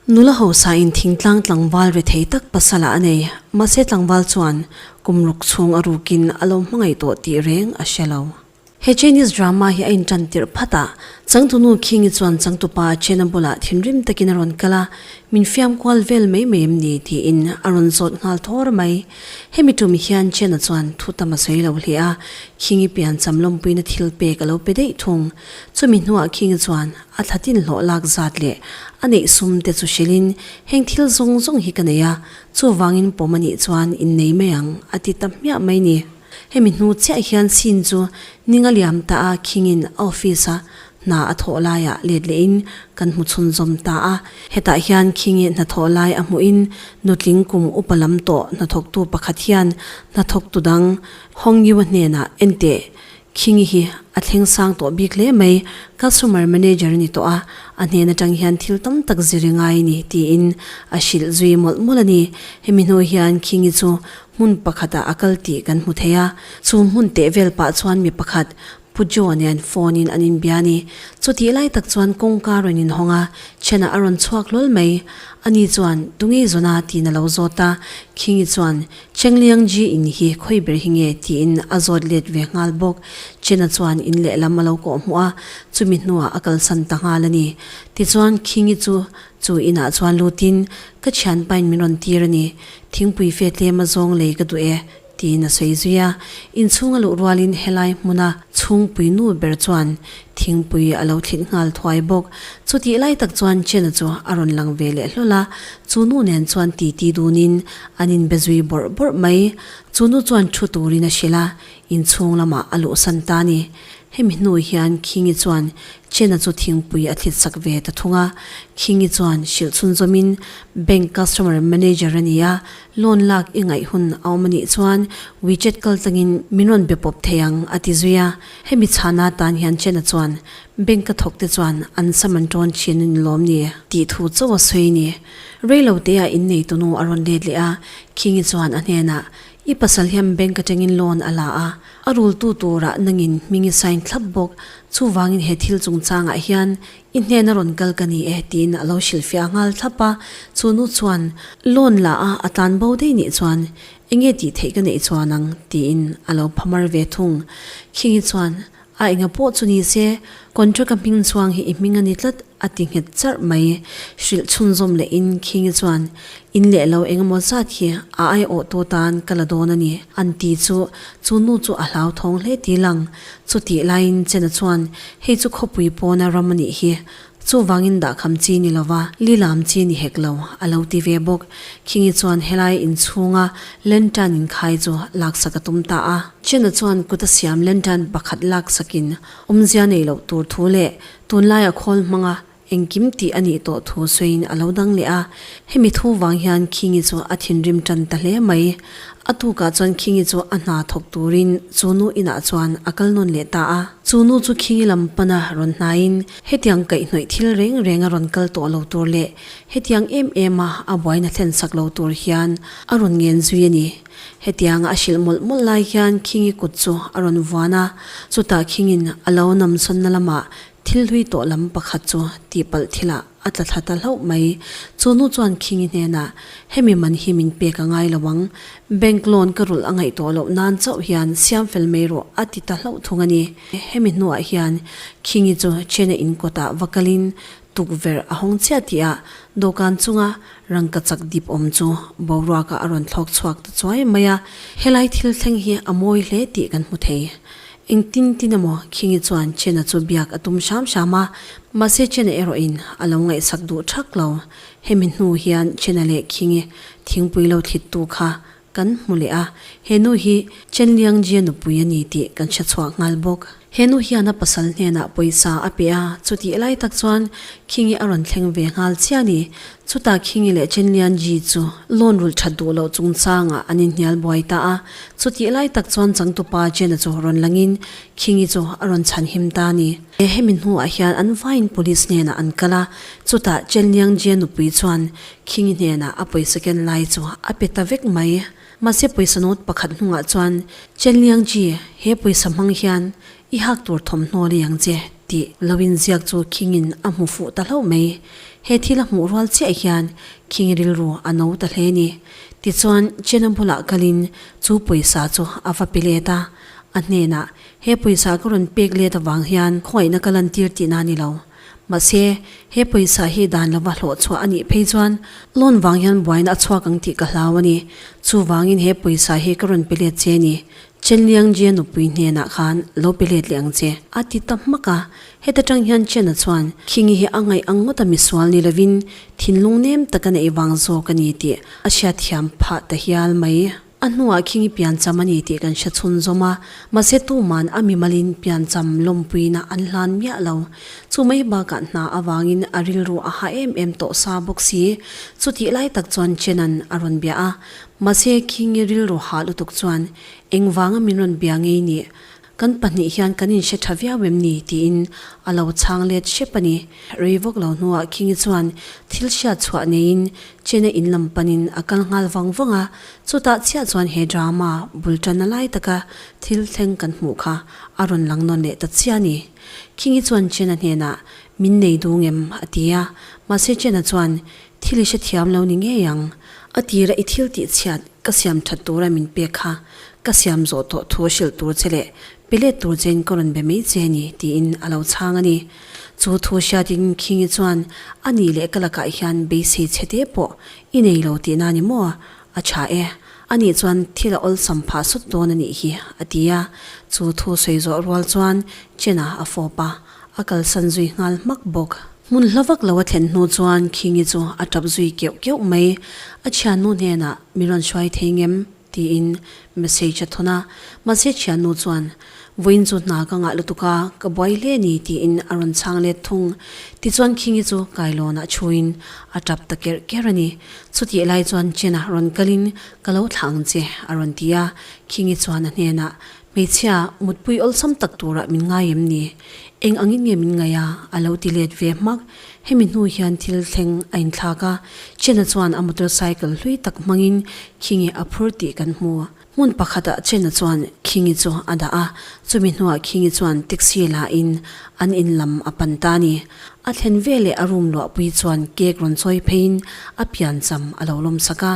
Nula hausa in thingtlang tlangval re thei tak pasal ah a nei. Mahse tlangval chuan kum ruk chhung a ruk in a lo hmangaih tawh tih reng a hre lo. He Chinese drama hi a in tan tirh phat a, changtu nu King-i chuan changtu pa Chena bulah thinrim tak in a rawn kal a, min fiam kual vel mai mai em ni? tiin a rawn zawt nghal thawr mai. Hemi tum hian Chiana chuan thu tam a sawi lo hle a, Khingi pian cham lawmpuina thil pek a lo pe daih thung. Chumi hnuah Khingi chuan a thla tin hlawh lak zat leh a neih sum te chu hrilhin, Heng thil zawng zawng hi ka nei a, chuvangin pawm a nih chuan in nei mai ang, a ti ta hmiah mai ni. Hemi hnu chiah hian scene chu Ninga liam ta a khingin a office a hna a thawh laiah let leh in kan hmu chhun zawm ta a. Hetah hian King i hna thawh lai a hmuh in nutling kum upa lam tawh hnathawktu pakhat hian hnathawktu dang Hong Yu-a hnenah Ente King i hi a thleng sang tawh bik hle mai, customer manager a ni tawh a, a hnen atang hian thil tam tak zir i ngai a ni tiin a hrilh zui mawlh mawlh a ni. Hemi hnu hian King i chu Hmun pakhatah a kal tih kan hmu thei a, chu hmun teh vel pah chuan mi pakhat Pu Joe nen phone-in an inbia a ni. Chutih lai tak chuan kawngka rawn inhawng a, Chhenah a rawn chhuak hlawl mai. Ani chuan, Tungei zawn a? tiin a lo zawt a, Khingi chuan, Chengliang ji in hi khawi ber hi nge? tiin a zawt let ve nghal bawk. Chena chuan in lehlam a lo kawh hmu a, chumi hnuah a kalsan ta nghal a ni. Tichuan Khingi chu Chu inah chuan lutin, Ka thian pain min rawn tir a ni. Thingpui fe tlema zawng lei ka duh e, tiin a sawi zui a. Inchhung a luh rualin helai hmuna chhungpui nu ber chuan thingpui a lo thlit nghal thuai bawk. Chutih lai tak chuan Chena chu a rawn lang ve leh hlawl a. Chu nu nen chuan titi dunin an inbe zui bawrh bawrh mai. Chu nu chuan thu turin a hrilh a, Inchhung lamah a luhsan ta a ni. Hemi hnu hian Khingi chuan Chen-a chu thingpui a thlitsak ve ta thung a. Khingi chuan hrilhchhun zawmin bank customer manager a ni a, loan lak i ngaih hun a awm a nih chuan WeChat kal tangin min rawn be pawp thei ang a ti zui a. Hemi chhana atan hian Chen-a chuan bank ka thawk te chuan an sam an tawn thin a ni lawm ni? Tih thu chauh a sawi a ni. Reilote-ah inneitunu a rawn let leh a, Khingi chuan a hnenah I pasal hian bank atangin loan a la a, a rultu turah nangin hming i sign thlap bawk, chuvangin he thil chungchangah hian i hnena rawn kal ka ni e tiin a lo hrilhfiah nghal thlap a, chu nu chuan loan la a a tlan bo daih nih chuan enge tih theih ka neih chuan ang tiin a lo phamar ve thung, Khingi chuan A enga pawh chu ni se, contract a hming chuang hi i hming a ni tlat, a ti nghet charh mai. Hrilh chhunzawm leh in khingi chuan, In leh lo eng emaw zat hi a ai awh tawh tan ka la dawn a ni, an ti chu chu nu chu a hlau thawng hle ti lang. Chutih laiin Chena chuan, Hei chu khawpui pawna ram a nih hi, Chuvangin dahkham chi ni lova, li lam chi ni hek lo, a lo ti ve bawk. Khingi chuan helai in chhunga lantern inkhai chu laksak a tum ta a. Chena chuan kuta siam lantern pakhat laksakin awmzia nei loh tur thu leh tunlaia khawl hmanga engkim tih a nih tawh thu sawiin a lo dang leh a. Hemi thu vang hian Khingi chu a thinrim tan ta hle mai. A tukah chuan Khingi chu a hna thawk turin chu nu inah chuan a kal nawn leh ta a. Chu nu chu Khingi lam pana rawn hnaiin. Hetiang kaihhnawih thil reng reng a rawn kal tawh lo tur leh hetiang em em a a buaina thlen sak lo tur hian a rawn ngen zui a ni. Hetianga a hrilh mawlh mawlh lai hian Khingi kut chu a rawn vuan a, chutah Khingin a lo namsawnna lamah thil hlui tawh lam pakhat chu tihpalh thilah a tla thla ta hlauh mai. Chu nu chuan Khingi hnenah, Hemi man hi min pek a ngai lo ang. Bank loan ka rulh a ngaih tawh loh nan chauh hian siam fel mai rawh a ti ta hlauh thung a ni. Hemi hnuah hian Khingi chu Chhena in kawtah va kalin tukverh a hawng chiah tih a, dawhkan chunga rangka chak dip awm chu boruaka a rawn thlawk chhuak ta chuai mai a. Helai thil thleng hi a mawi hle tih kan hmu thei. Engtin tin emaw Khingi chuan Chhena chu biak a tum hram hram a, mahse Chhena erawhin a lo ngaihsak duh thak lo. Hemi hnu hian Chhena leh Khingi thingpui lo thlit tu kha Kan hmu leh a, he nu hi Chen Liangjie nupui a ni tih kan hre chhuah nghal bawk. He nu hian a pasal hnenah pawisa a pe a, chutih lai tak chuan Khingi a rawn thleng ve nghal chiah a ni. Chutah Khingi leh Chen Liangjie chu loan rulh that duh loh chungchangah an inhnial buai ta a, chutih lai tak chuan Changtupa Chen-a chu rawn langin Khingi chu a rawn chhan him ta a ni. Hemi hnuah hian an vaiin police hnenah an kal a, chutah Chen Liangjie nupui chuan King hnenah a pawisa ken lai chu a pe ta vek mai. Mahse pawisa nawt pakhat hnungah chuan Chen Liangji, he pawisa hmang hian i hak tur thawmhnaw leh ang che tih lo inziak chu King-in a hmu fuh ta hlauh mai. He thil a hmuh rual chiah hian King rilru a no ta hle ni. Tichuan Chen-a bulah kalin chu pawisa chu a va pe let a, a hnenah, He pawisa ka rawn pek let avang hian khawiahna ka lan tir tihna a ni lo. Mahse, he pawisa hi dan lova hlawh chhuah a nih phei chuan loan vang hian buaina a chhuak ang tih ka hlau a ni. Chuvangin he pawisa hi ka rawn pe let che a ni. Chenliangjia nupui hnenah khan lo pe let leh ang che. A ti ta hmak a, heta tang hian Chen-a chuan, Khingi hi a ngaih ang ngawt a misual ni lovin thinlung nem taka neih vang zawk a ni tih a hriatthiam phah ta hial mai. A hnuah khing i piancham a ni tih kan hre chhunzawm a, mahse tuman a mimalin piancham lawmpuina an hlan miah lo. Chu mai bakah hna avangin a rilru a ha em em tawh sa bawk si. Chutih lai tak chuan Chena'n a rawn bia a, mahse khing i rilru ha lutuk chuan engvanga min rawn bia ngei nih? Kan pahnih hian kan inhre tha viau em ni? tiin a lo chhang let hrep a ni. Rei vawk lo hnuah Khingi chuan thil hriat chhuah neiin Chena in lam panin a kal nghal vang vang a, chutah chiah chuan he drama bul tanna lai taka thil thleng kan hmuh kha a rawn lang nawn leh ta chiah a ni. Khingi chuan Chena hnenah, Min nei dûng em? a ti a, mahse Chena chuan, Thil i hrethiam lo ni ngei ang. A tira i thil tihchhiat ka siam that tura min pek kha ka siam zawh tawh thu a hrilh tur che leh pe let tur chein ka rawn be mai che a ni, tiin a lo chhang a ni. Chu thu hriatin Khingi chuan a nih leh ka lakah hian beisei chhe te pawh i nei lo tihna a ni maw? a tha e. A nih chuan thil a awlsam phah sawt dawn a nih hi, a ti a. Chu thu sawi zawh rual chuan Chen-a a fawp a. A kalsan zui nghal hmak bawk. Hmun hla vak lo a thlen hnu chuan Khingi chu a tap zui keuh keuh mai. A thiannu hnenah, Mi rawn hruai thei ngem? tiin message a thawn a. Mahse thiannu chuan, Vawiin chu hna ka ngah lutuk a, ka buai hle ni, tiin a rawn chhang let thung. Tichuan Khingi chu kailawnah thuin a tap ta ker ker a ni. Chutih lai chuan Chen-a rawn kalin, Ka lo thlah ang che, a rawn ti a. Khingi chuan a hnenah, Hmeichhia, mutpui awlsam tak turah min ngai em ni? Eng angin nge min ngaih a? a lo ti let ve hmak. Hemi hnu hian thil thleng a inthlak a, Chen-a chuan a motorcycle hlui tak hmangin Khingi a phur tih kan hmu. Hmun pakhatah Chen-a chuan Khingi chu a dah a, chumi hnuah Khingi chuan taxi lahin an in lam a pan ta a ni. A thlen ve leh a rum luahpui chuan cake rawn chawi pheiin a pian cham a lo lawmsak a.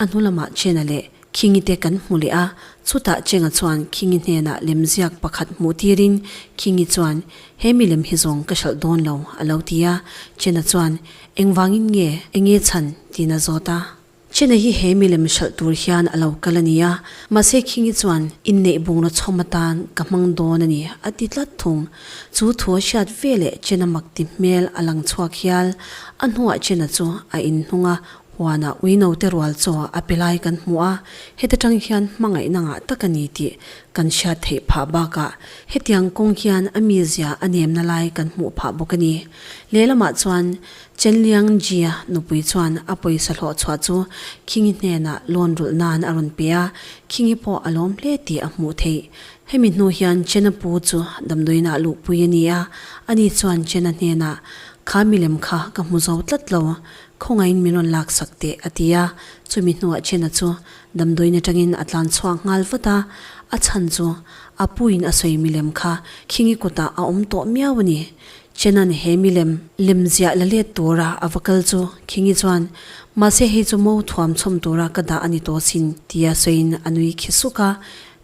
A hnu lamah Chen-a leh Khingi te kan hmu leh a, chutah Cheng-a chuan Khingi hnenah lemziak pakhat hmuh tirin Khingi chuan, He milem hi zawng ka hralh dawn lo, a lo ti a, Chen-a chuan, Engvangin nge, enge chhan? tiin a zawt a. Chen-a hi he milem hralh tur hian a lo kal a nia, mahse Khingi chuan, In neih bungraw chhawm atan ka hmang dawn a ni, a ti tlat thung. Chu thu a hriat veleh Chen-a mak ti hmel a lang chhuak hial, a hnuah Chen-a chu a inhnung a, Huana uinote rual chaw a pe lai kan hmu a, heti tang hian hmangaihna ngah tak a ni tih kan hriat theih phah bakah hetiang kawng hian a mizia a nemna lai kan hmuh phah bawk a ni. Lehlamah chuan Chen Liangjia nupui chuan a pawisa hlawh chhuah chu Khingi hnenah lawn rulh nan a rawn pe a, Khingi pawh a lawm hle tih a hmuh theih. Hemi hnu hian Chena pu chu damdawiinah luhpui a ni a, ani chuan Chena hnenah, Kha milem kha ka hmu zo tlat lo, Khawngaihin min rawn lak sak teh, a ti a. Chumi hnuah Chena chu damdawiin atangin a tlan chhuak nghal vat a. A chhan chu a puin a sawi milem kha khingi kutah a awm tawh miau a ni. Chena'n he milem lemziah la let tura a va kal chu khingi chuan, Mahse hei chu mo thuam chhawm tura ka dah a ni tawh sin, tia sawiin a nui khi suk a.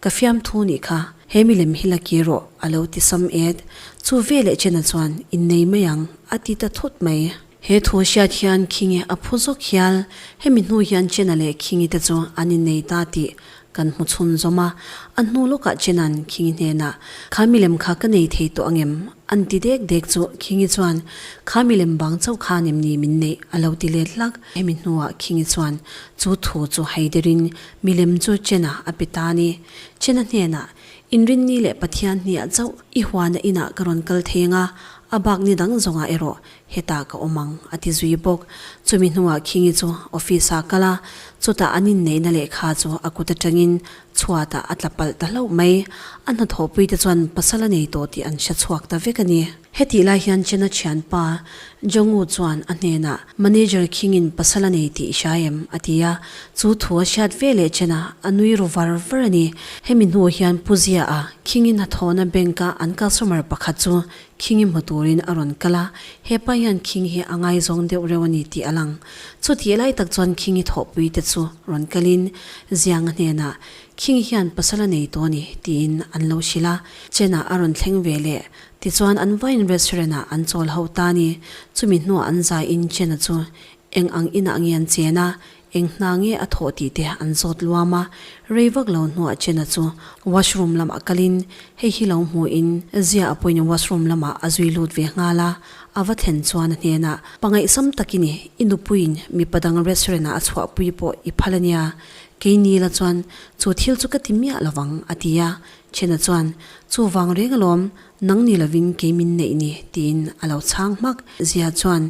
Ka fiam thu nih kha, he milem hi la ki rawh, a lo ti sam et. Chu veleh Chena chuan, In nei mai ang, a ti ta thut mai. He thu hriat hian Khingi a phu zawk hial, hemi hnu hian Chena leh Khingi te chu an innei ta tih kan hmu chhun zawm a, a hnu lawkah Chena'n Khingi hnenah, Kha milem kha ka nei thei tawh angem? An ti dek dek chu Khingi chuan, Kha milem bang chauh kha nem ni min nei, a lo ti let hlak, hemi hnuah Khingi chuan chu thu chu haiderin milem chu Chena a pe ta ni. Chena hnenah, Inrinni leh Pathian hniah chauh i huana inah ka rawn kal thei ang a, a bak ni dang zawngah erawh Hetah ka awm ang, a ti zui bawk. Chumi hnungah Khingi chu office-ah kal a, chutah an inneihna lehkha chu a kut atangin chhuatah a tla palh ta hlauh mai. A hnathawhpuite chuan pasal a nei tawh tih an hre chhuak ta vek a ni. Hetih lai hian Chena thianpa Jongu chuan a hnenah, Manager Khingin pasal a nei tih i hria em? a ti a. Chu thu a hriat ve leh Chena a nui ru var var a ni. Hemi hnu hian Pu Zia-a Khingi hnathawhna bank-a an customer pakhat chu Khingi hmu turin a rawn kal a, hepa hian Khingi hi a ngai zawng deuh reuh a ni tih a lang. Chutih lai tak chuan Khingi thawhpuite chu rawn kalin Zianga hnenah, Khingi hian pasal a nei tawh a ni tiin an lo hrilh a, Chenah a rawn thleng ve le. Tichuan an vain restaurant ah an chawl hauh ta a ni. Chumi hnuah an zaiin Chena chu eng ang inah nge an chen a, Eng hna nge a thawh tih te an zawt luam a, rei vak lo hnuah Chen-a chu washroom lamah kalin hei hi lo hmuh in Zia a puin washroom lamah a zui lut ve nghal a, a va thlen chuan a hnenah, Pangaihsam tak i ni, i nupuiin mipa dang restaurant-ah a chhuahpui pawh i phal a nia, kei ni la chuan chu thil chu ka ti miah lo vang, a ti a, Chen-a chuan, Chu vang reng alawm, nang ni lovin kei min neih ni, tiin a lo chhang hmak. Zia chuan,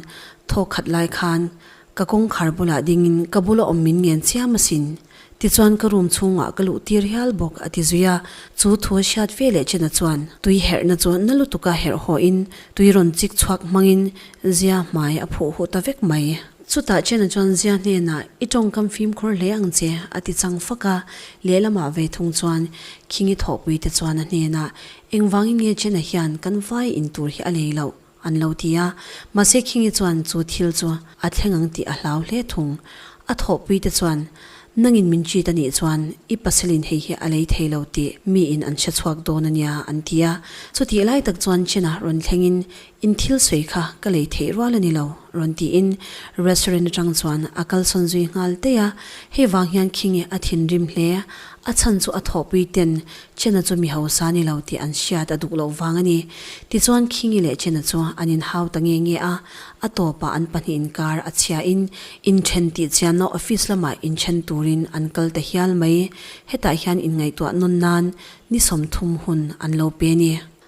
Thawk khat lai khan Ka kawngkhar bulah dingin ka bula awm min ngen chiam asin. Tichuan ka room chhungah ka luh tir hial bawk, a ti zui a. Chu thu a hriat ve leh china chuan tui herhna chu na lutuka herh hawiin tui rawn chik chhuak hmangin Zia hmai a phuh huh ta vek mai. Chutah china chuan Zia hnenah, I tawng kan fimkhur hle ang che, a ti chang fak a. Lehlamah ve thung chuan Khingi thawhpuite chuan a hnenah, Engvangin nge china hian kan vai in tur hi a lei loh? An lo ti a, mahse Khingi chuan chu thil chu a thleng ang tih a hlau hle thung. A thawhpui te chuan, Nangin min cheat a nih chuan i pasalin hei hi a lei thei lo tih miin an hre chhuak dawn a nia, an ti a. Chutih lai tak chuan Chen-a rawn thlengin, In thil sawi kha ka lei theih rual a ni lo, rawn tiin restaurant atang chuan a kal sawn zui nghal tei a. Hei vang hian Khingi a thinrim hle, a chhan chu a thawhpui ten Chena chu mi hausa ni lo tih an hriat a duh loh vang a ni. Tichuan Khingi leh Chena chu an inhau ta nge nge a, a tawpah an pahnih inkar a chhiahin inthen tih chianna office lamah inthen turin an kal ta hial mai. Hetah hian inngaihtuah nawn nan ni sawmthum hun an lo pe a ni.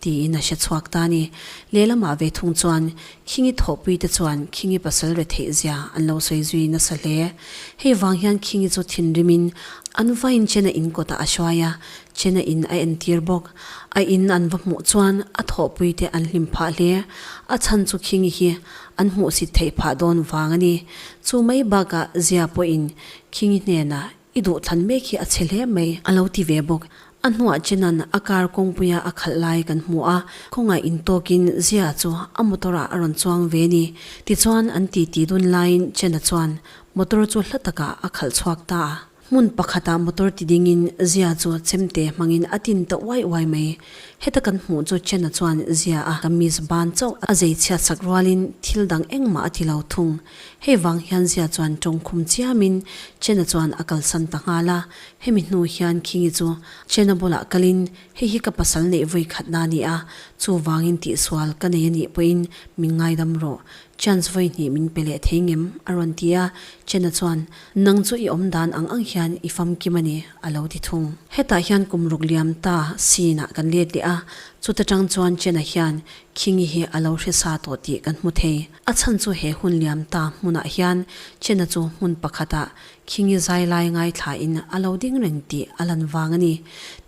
Tiin a hre chhuak ta ni. Lehlamah ve thung chuan Khingi thawhpui te chuan Khingi pasal retheih zia an lo sawi zui nasa hle. Hei vang hian Khingi chu thinrimin an va in Chena in kawtah a hruai a, Chena in a entir bawk. A in an va hmuh chuan a thawhpui te an hlim phah hle. A chhan chu Khingi hi an hmuhsit theih phah dawn vang a ni. Chu mai bakah zia pawhin Khingi hnenah I duh thlan mek hi a chhe hle mai, a lo ti ve bawk. A hnuah Chena'n a car kawngpuia a khalh lai kan hmu a, khawngaih intawkin Zia chu a motor-ah a rawn chuang ve ni? tichuan an ti ti dun laiin Chena chuan motor chu hla takah a khalh chhuak ta a. Hmun pakhatah motor ti dingin Zia chu chemte hmangin a tin ta uai uai mai. Heta kan hmuh chu Chena chuan Zia-a kamis ban chauh a zei chhiatsak rualin thil dang engmah a ti lo thung. Hei vang hian Zia chuan tawng khum chiamin Chena chuan a kalsan ta nghal a, hemi hnu hian Khingi chu Chena bulah kalin hei hi ka pasal neih vawi khatna a ni a, chuvangin tihsual ka nei a nih pawhin min ngaidam rawh, chance vawi hnih min pe leh thei ngem, a rawn ti a, Chena chuan Nang chu i awm dan ang ang hian i famkim a ni, a lo ti thung. Hetah hian kum ruk liam ta scene-ah kan let leh a, chuta tang chuan Chena hian Khingi hi a lo hresa tawh tih kan hmu thei. A chhan chu he hun liam ta hmunah hian Chena chu hmun pakhatah Khingi zailai ngaithla in a lo ding reng tih a lan vang a ni.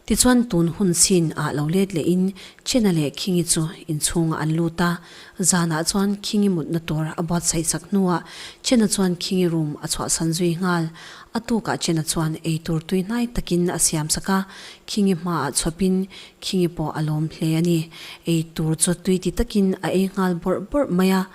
Tichuan tun hun sin ah lo let leh in Chena leh Khingi chu inchhungah an lut a, zanah chuan Khingi mutna tur a buatsaih chak hnuah Chena chuan Khingi rum a chhuahsan zui nghal. A tukah Chena chuan eitur tuihnai takin a siamsak a, Khingi hmaah chhuapin Khinge pawh a lawm hle a ni. Eitur chu tui ti takin a ei nghal bawrh bawrh mai a.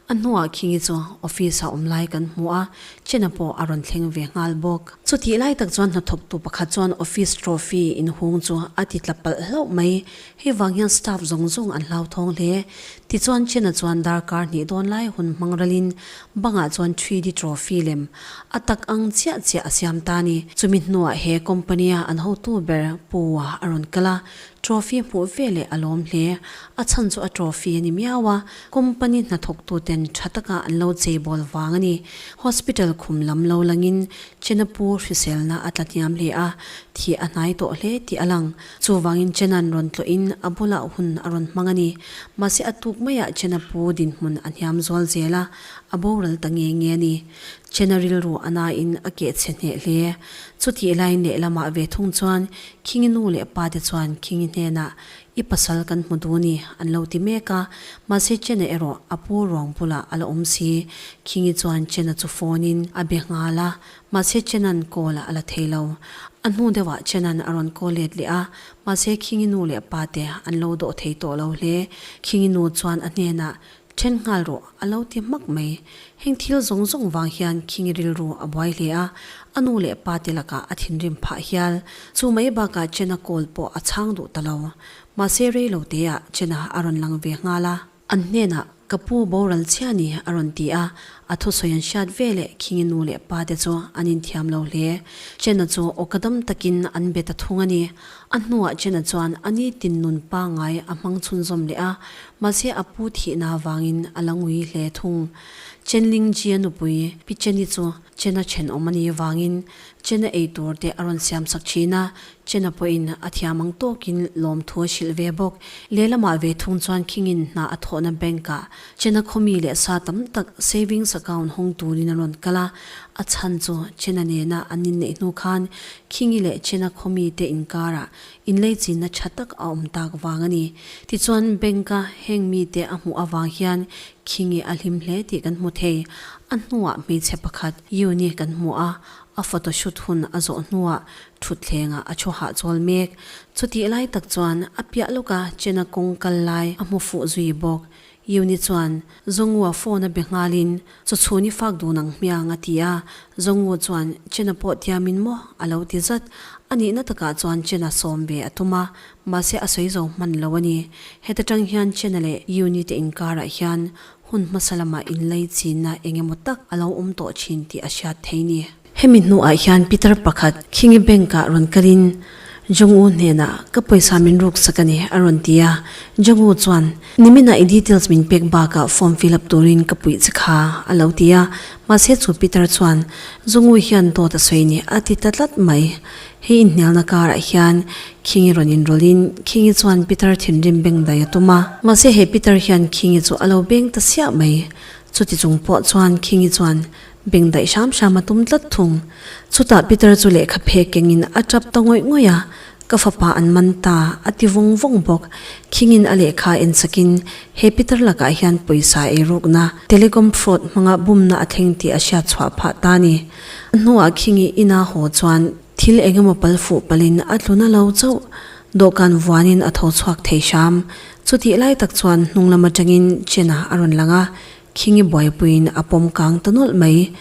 A hnuah Khinge chu office-ah awm lai kan hmu a, Chena pawh a rawn thleng ve nghal bawk. Chutih lai tak chuan hnathawktu pakhat chuan office trophy inhung chu a ti tla palh hlauh mai, Hei vang hian staff zawng zawng an hlauthawng hle. Tichuan Chena chuan darkar hnih dawn lai hun hmangrelin bangah chuan Treedy Trophy lem a tak ang chiah chiah a siam ta a ni. Chumi hnuah he company-a an hotu ber pu a rawn kal a, trophy hmuh ve leh a lawm hle. A chhan chu a trophy a ni miau a, company hnathawktuten tha taka an lo cheibawl vang a ni. Hospital khum lam lo langin Chenapu hriselna a tla hniam hle a, thih a hnai tawh hle tih a lang. Chuvangin Chena'n rawn tlawhin a bulah hun a rawn hmang a ni. Mahse a tuk maiah Chena pu dinhmun a hniam zual zel a, a boral ta nge nge a ni. Chena rilru a nain a keh chhe hneh hle. Chutih lain lehlamah ve thung chuan Khingi nu leh pa te chuan Khingi hnenah, I pasal kan hmu duh a ni, an lo ti mek a. Mahse Chena erawh a pu ruang bulah a la awm si. Khingi chuan Chena chu phone-in a be nghal a, Mahse Chenan call a la thei lo. A hnu deuh ah Chenan a rawn call let leh a, mahse Khingi nu leh pa te an lo dawh thei tawh lo hle. Khingi nu chuan a hnen ah, Then nghal rawh, a lo ti hmak mai. Heng thil zawng zawng vang hian Khingi rilru a buai hle a, a nu leh pa te lakah a thinrim phah hial. Chu mai bak ah Chena call pawh a chhang duh ta lo. Mahse rei lo te ah Chena a rawn lang ve nghal a. An hnenah, Ka pu boral chhia ni, a rawn ti a, a thusawi an hriat ve leh Khingi nu leh pa te chu an inthiam lo hle. Chen-a chu aw ka dam takin an be ta thung a ni. A hnuah Chen-a chuan a ni tin nun pangai a hmang chhunzawm leh a, mahse a pu thihna avangin a la ngui hle thung. Chen Ling Jia nupui Pi Cheni chu Chen-a ṭhenawm a nih avangin Chen a ei tur te a rawn siam sak thin a, Chen a pawhin a thiam ang tawkin lawmthu a hrilh ve bawk. Lehlamah ve thung chuan Khingin hna a thawhna bank ah Chen a khawmi leh sa tam tak savings account hawng turin a rawn kal a, a chhan chu Chen a nena an inneih hnu khan Khingi leh Chen a khawmi te inkarah Inlei chinna tha tak a awm tak vang a ni. Tichuan, Bank-a heng mite a hmuh avang hian Khingi a hlim hle tih kan hmu thei. A hnuah hmeichhe pakhat, Yuni, kan hmu a, a photoshoot hun a zawh hnuah thutthlengah a thu hah chawl mek. Chutihlai tak chuan, a piah lawka Chena kawng kal lai a hmu fuh zui bawk. Yuni chuan Zongua phone a be nghalin, Chu chhun i fak dun ang hmiang, a ti a. Zongu chuan, Chena pawh tia min maw? a lo ti zat. A nihna takah chuan Chena sawm ve a tum a, mahse a sawi zo hman lo a ni. Heta tang hian Chena leh Yuni te inkarah hian hun hmasa lama inlei chinna eng emaw tak a lo awm tawh thin tih a hriat thei ni. Hemi hnuah hian Peter pakhat Khingi Bank ah rawn kal in Jong-u hnenah ka pawisa min ruksak a ni a rawn ti a, Jong-u chuan Nimina i details min pek bakah form fill up turin ka puih che kha a lo ti a, mahse chu Peter chuan Jong-u hian dawt a sawi a ni a ti ta tlat mai. He inhnialna karah hian Khingi rawn inrawlh in Khingi chuan Peter thinrim beng dai a tum a, mahse he Peter hian Khingi chu a lo beng ta siah mai, chutichung pawh chuan Khingi chuan beng daih hram hram a tum tlat thung. Chutah Peter chu lehkha phe kengin a tap ta ngawih ngawih a, ka fapa an man ta a ti vawng vawng bawk. Khingin a lehkha a en sakin, He Peter lakah hian pawisa ei rukna, telecom fraud, hmanga bumna a thleng tih a hriat chhuah phah ta ni. A hnuah Khing i in a haw chuan thil eng emaw pal fuh palin a tlu na lo chauh. Dawhkan vuanin a tho chhuak thei hram. Chutih lai tak chuan hnunglam atangin Chen-a a rawn lang a, Khingi buaipuiin a pawm kang ta nawlh mai.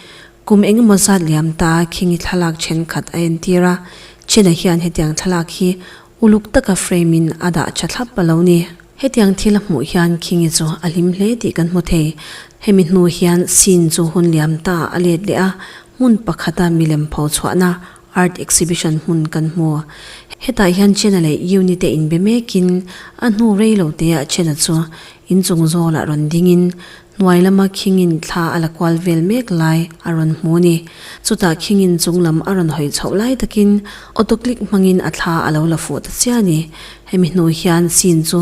Kum eng emaw zat liam ta Khingi thlalak thenkhat a entir a, China hian hetiang thlalak hi uluk taka frame-in a dah tha thlap a lo ni. Hetiang thil hmuh hian Khingi chu a hlim hle tih kan hmu thei. Hemi hnu hian scene chu hun liam taah a let leh a, hmun pakhata milem pho chhuahna Art exhibition hmun kan hmu. Hetah hian Chena leh Euni te inbe mekin a hnu rei lo têah Chena chu inchung zâwlah rawn dingin hnuai lama khingin thla a la kual vêl mêk lai a rawn hmu a ni. Chutah khingin chung lam a rawn hawi chhoh lai takin auto click hmangin a thla a lo la fuh ta chiah a ni. Hemi hnu hian scene chu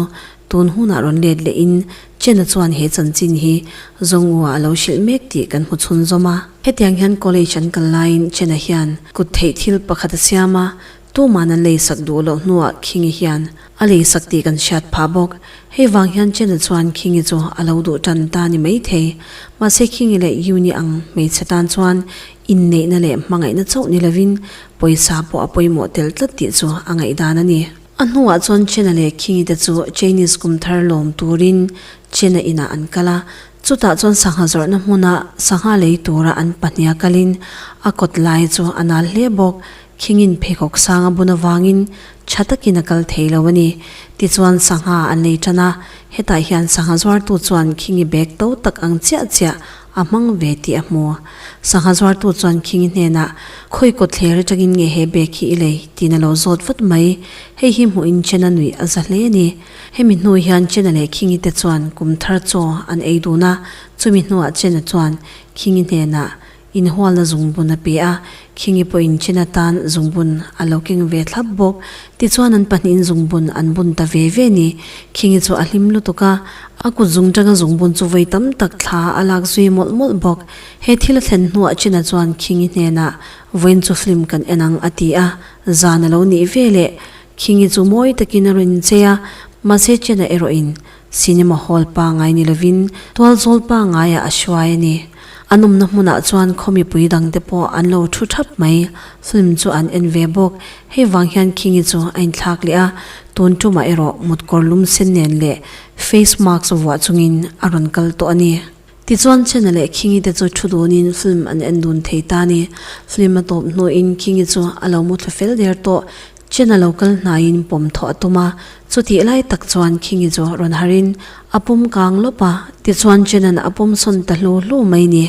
Tun hunah rawn let leh in Chen-a chuan he chanchin hi Zongwu-a a lo hrilh mek tih kan hmu chhun zawm a. Hetiang hian college an kal laiin Chen-a hian kut theih thil pakhat a siam a, Tuman an lei sak duh loh hnuah King-i hian a lei sak tih kan hriat phah bawk. Hei vang hian Chen-a chuan King-i chu a lo duh tan ta ni maithei. Mahse King-i leh Yun-i ang hmeichhe tan chuan inneihna leh hmangaihna chauh ni lovin pawisa pawh a pawimawh tel tlat tih chu a ngaihdan a ni. A hnuah chuan China leh Khingi te chu Chinese kum thar lawm turin China inah an kal a, chutah chuan sangha zawrhna hmuna sangha lei tura an pahniha kalin a kawt lai chu a nal hle bawk. Khingin pheikhawk sang a bun avangin tha takin a kal thei lo a ni. Tichuan sangha an lei tan a, hetah hian sangha zuartu chuan Khingi bag to tak ang chiah chiah A hmang ve tih a hmu. Sangha zuartu chuan Khingi hnenah, Khawi kawt thler atangin nge he bag hi i lei? tiin a lo zawt vat mai. Hei hi hmuhin Chena nuih a za hle a ni. Hemi hnu hian Chena leh Khingi te chuan kum thar chaw an ei dun a. Chumi hnuah Chena chuan Khingi hnenah, Inhualna zungbun a pe a, Khingi pawh in chin atan zungbun a lo keng ve thlap bawk. Tichuan an pahnihin zungbun an bun ta ve ve ni. Khingi chu a hlim lutuk a, a kut zung tanga zungbun chu vawi tam tak thla a lak zui mawlh mawlh bawk. He thil a thlen hnuah China chuan Khingi hnenah, Vawiin chu film kan en ang a ti a, zan a lo nih veleh. Khingi chu mawi takin a rawn inchei a, mahse China erawh in. Cinema hall pangai ni lovin tual zawl pangaiah a hruai a ni. An awmna hmunah chuan khaw mipui dangte pawh an lo thu thap mai. Film chu an en ve bawk. Hei vang hian Kingi chu a inthlak leh a, tun tumah erawh mut kawrlum sen nen leh face mask vuah chungin a rawn kal tawh a ni. Tichuan Chena leh Kingi te chu thu dunin film an en dun thei ta a ni. Film a tawp hnuin Kingi chu a lo mu thla fel der tawh, Chena lo kal hnaiin pawm thaw a tum a. Chutih lai tak chuan Kingi chu rawn harhin a pum kang lawp a. Tichuan Chena'n a pum sawn ta hlu hlu mai ni.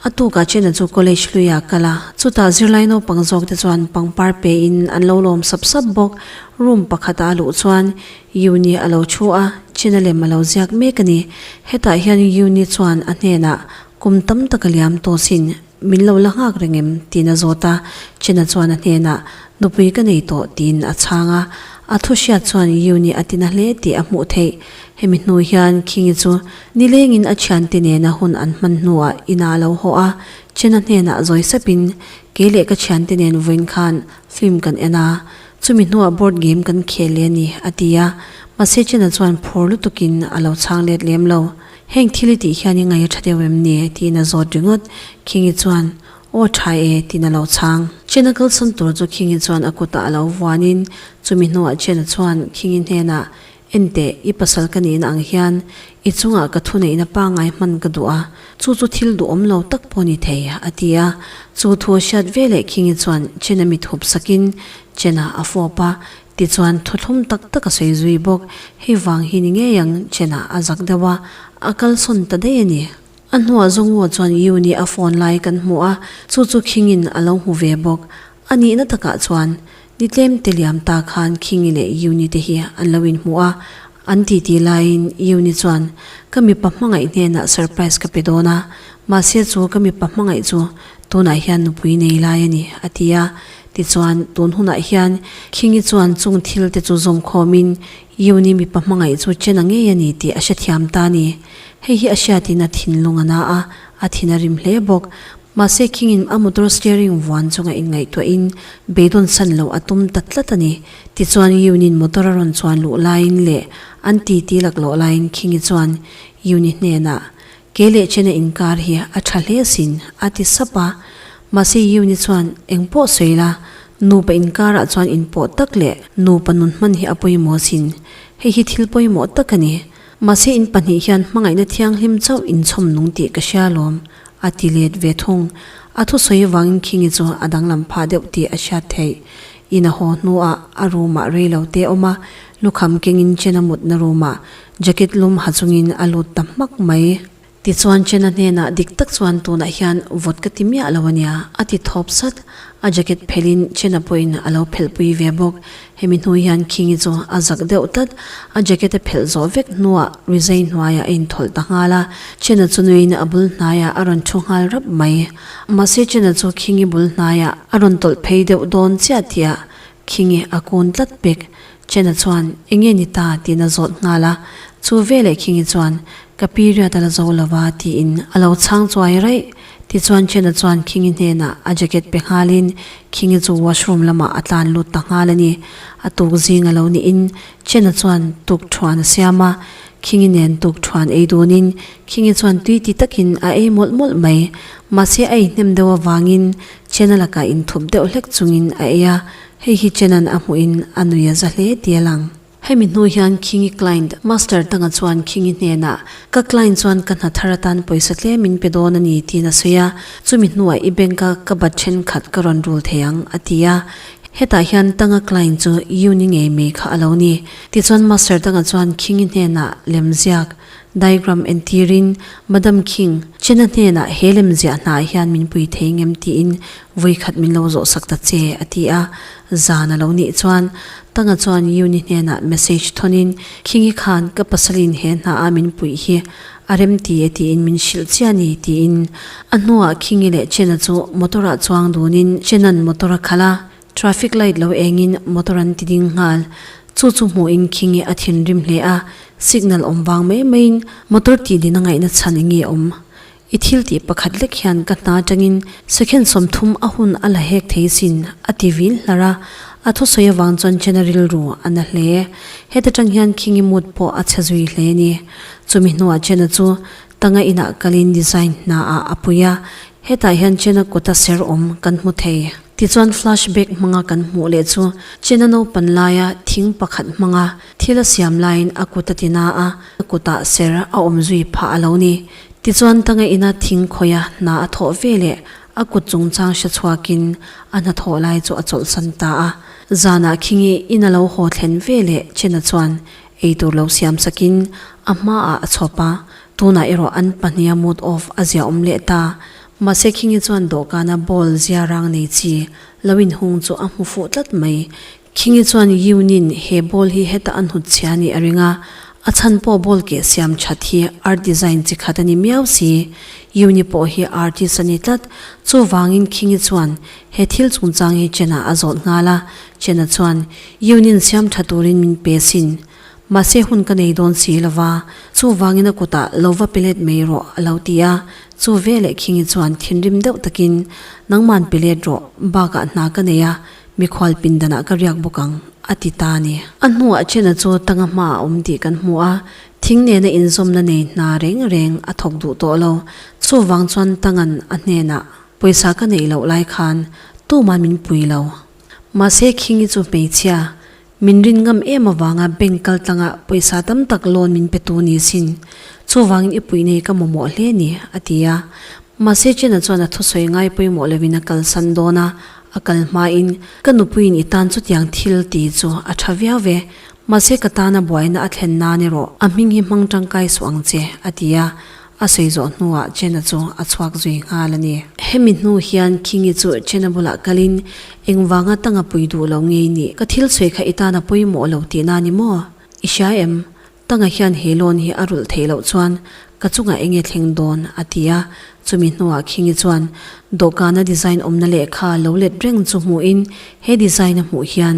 A tukah Chena chu college hlui a kal a. Chutah zirlai naupang zawk te chuan pangpar pein an lo lawm sap sap bawk. Room pakhatah a luh chuan Yuni a lo thu a, China lem a lo ziak mek a ni. Hetah hian Yuni chuan a hnenah, Kum tam tak a liam tawh sin, min lo la nghak reng em? tiin a zawt a, China chuan a hnenah, Nupui ka nei tawh, tiin a chhang a. A thu hriat chuan Yuni a tina hle tih a hmuh theih. Hemi hnu hian Khingi chu nilengin a thiante nena hun an hman hnuah ina a lo haw a, China hnenah zawi sepin, Kei leh ka thiante nen vawiin khan film kan en a, Chumi hnuah board game kan khel leh a ni, a ti a. Mahse Chin-a chuan phur lutukin a lo chhang let lem lo. Heng thil i tih hian i ngaih a tha deuh em ni? tiin a zawt ringawt. Khingi chuan, Aw a tha e, tiin a lo chhang. Chin-a kalsan tur chu Khingi chuan a kutah a lo vuanin, chumi hnuah Chin-a chuan Khingi hnenah, Enteh, i pasal ka nih na ang hian i chungah ka thuneihna pangngai hman ka duh a, chu chu thil duhawm lo tak pawh ni thei, a ti a. Chu thu a hriat ve leh Khingi chuan Chen-a mit hup sakin Chen-a a fawp a, tichuan thuthlum tak tak a sawi zui bawk. Hei vang hi ni ngei ang, Chen-a a zak deuh a, a kalsawn ta daih a ni. A hnuah Zongaw chuan U nih a phone lai kan hmu a, chu chu Khing in a lo hmu ve bawk. A nihna takah chuan, Ni tlemte liam ta khan Khing i leh U ni te hi an lo inhmu a, an titi laiin U ni chuan, Ka mipa hmangaih hnenah surprise ka pe dawn a, mahse chu ka mipa hmangaih chu tunah hian nupui nei lai a ni, a ti a. Tichuan, tun hunah hian Khing i chuan chung thil te chu zawm khawmin Yuni mipa hmangaih chu chena ngei a ni tih a hrethiam ta a ni. Hei hi a hriatin a thinlung a na a, a thin a rim hle bawk. Mahse khingin a motor steering vuan chunga inngaihtuahin beidawn san lo a tum ta tlat a ni. Tichuan Yunin motor a rawn chuan luh laiin leh an titi lak loh laiin Khingi chuan Yuni hnenah, Kei leh chena inkar hi a tha hle sin, a ti sap a. Mahse Yuni chuan, Eng pawh sawi la, nupa inkarah chuan in pawh tak leh nupa nun hman hi a pawimawh sin. Hei hi thil pawimawh tak a ni. Mahse in pahnih hian hmangaihna thianghlim chauh in chhawm nung tih ka hria alawm, a ti let ve thung. A thusawi vangin Khingi chu a danglam phah deuh tih a hriat theih. Ina haw hnuah a room-ah rei lo te awm a, Lukham kengin Chena mutna roomah jacket lum ha chungin a lut ta hmak mai. Tichuan Chena hnenah dik tak chuan tunah hian vawt ka ti miah lo a nia a ti thawp sat. A jacket phelhin Chena pawhin a lo phelhpui ve bawk. Hemi hnu hian Khingi chu a zak deuh tlat. A jacket a phelh zawh vek hnuah Rizei hnuaiah a inthawlh ta nghal a. Chena chu nuihin a bul hnaiah a rawn thu nghal rap mai. Mahse Chena chu Khingi bul hnaiah a rawn tawlh phei deuh dawn chiah tih a khi nge a kun tlat bik. Chena chuan, Enge ni ta? tiin a zawt nghal a, chu veleh khi nge chuan, Ka period a la zo lo va, tiin a lo chhang chuai raih. Tichuan Chena chuan khi nge hnenah a jacket pe nghalin khi nge chu washroom lamah a tlan lut ta nghal a ni. A tuk zing a lo niin Chena chuan tuk thuan a siam a, khi nge nen tuk thuan ei dunin khi nge chuan tui ti takin a ei mawlh mawlh mai. Mahse a ei hnem deuh avangin Chena lakah inthawp deuh hlek chungin a ei a, hei hi Chena'n a hmuhin a nui a za hle tia lang. Hemi hnu hian Khingi client Master Tanga chuan Khingi hnenah, Ka client chuan ka hna thar atan pawisa tle min pe dawn a ni tiin a sawi a, chumi hnuah i bank a ka bat thenkhat ka rawn rul thei ang a ti a. Hetah hian Tanga client chu uni ngei mai kha a lo ni. Tichuan Master Tanga chuan Khingi hnenah, Lemziak, Diagram entîrin Madam Khing, Chena hnênah he lemziah hnâah hian min pui thei ngem tiin vawi khat min lo zawh sak ta che, a ti a. Zân a lo nih chuan Tanga chuan Yuni hnênah message thawnin, Khingi khân ka pasalin he hnâa min puih hi a rem ti e tiin min hrilh chiah ni, tiin. A hnuah Khingi leh Chena chu motor-ah chuang dûnin Chena'n motor a khalh a, Traffic light lo engin motor an ti ding nghal. Chu chu hmuh in Khinge a thinrim hle a, signal awm vang mai maiin motor tih din a ngaihna chhan enge awm? I thil tih pakhat lek hian ka hna atangin second sawmthum a hun a la hek thei sin, a ti vil hlar a. A thusawi avang chuan Chen-a rilru a na hle. Heta tang hian Khinge mood pawh a chhe zui hle a ni. Chumi hnuah Chen-a chu Tanga inah kalin design hna ah a pui a, hetah hian China kawta ser awm kan hmu thei. Tichuan flash back hmanga kan hmuh leh chu China naupan laia thing pakhat hmanga thil a siam laiin a kut a ti na a, a kutah ser a awm zui phah a lo ni. Tichuan Tanga ina thing khawia hna a thawh ve leh a kut chungchang hre chhuakin a hna thawh lai chu a chawlhsan ta a, zanah khingi in a lo haw thlen ve leh China chuan Eitur lo siam sakin a hmaah a chhawp a, tunah erawh an pahnia mood off a ziaawm leh ta. Mahse Khingi chuan dawhkana ball zia rang nei chi lo inhung chu a hmu fuh tlat mai. Khingi chuan Yiunin he ball hi heta a hnut chhia nih a ring a, a chhan pawh ball keh siam that hi art design chi khat a ni miau si. Yiuni pawh hi artist a ni tlat, chuvangin Khingi chuan He thil chungchang hi Chen-a a zawt nghal a, Chen-a chuan, Yun-in siamtha turin min pe sin. Mahse hun ka nei dawn si lo va, chuvangin a kutah lo va pe let mai rawh, a lo ti a. Chu veleh Khingi chuan thinrim deuh takin, Nangman pe let rawh, bakah hna ka nei a, mikhual pindanah ka riak bawk ang, a ti ta a ni. A hnuah Chen-a chu tanga hma a awm tih kan hmu a, thing nena inzawmna nei hna reng reng a thawk duh tawh lo. Chuvang chuan tanga'n a hnenah Pawisa ka neih loh lai khan tuma min pui lo. Mahse Khingi chu hmeichhia min rin ngam em avanga bank kaltlanga pawisa tam tak loan min pe tu ni sin. Chuvangin i puih nei ka mamawh hle ni, a ti a. Mahse Chena chuan a thusawi ngai pawimawh lovin a kalsan dawn a, a kal hmain, Ka nupuiin i tan chutiang thil ti chu a tha viau ve. Mahse ka tana buaina a thlen nan erawh a hming hi hmang tangkai suh ang che, a ti a. A sawi zawh hnuah Chena chu a chhuak zui nghal a ni. Hemi hnu hian Khingi chu Chena bulah kalin, Engvanga tanga pui duh lo ngei nih? Ka thil sawi kha i tan a pawimawh lo tih na a ni maw? I hria em? Tanga hian he loan hi a rulh theih loh chuan ka chungah enge thleng dawn? a ti a. Chumi hnuah Khingi chuan dawhkana design awmna lehkha lo let reng chu hmuhin he design a hmuh hian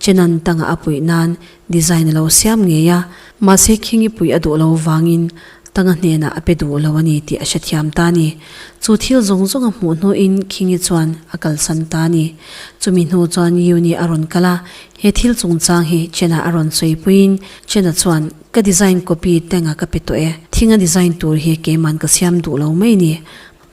Chena'n tanga a puih nan Design a lo siam ngei a, mahse Khingi puih a duh lo vangin Tanga hnenah a pe duh lo a ni tih a hrethiam ta a ni. Chu thil zawng zawnga hmuh hnuin Khingi chuan a kalsan ta a ni. Chumi hnu chuan Yuni a rawn kal a, he thil chungchang hi Chena a rawn sawipuiin Chena chuan, Ka design copy Tanga ka pe tawh e, thing a design tur hi keiman ka siam duh lo mai ni.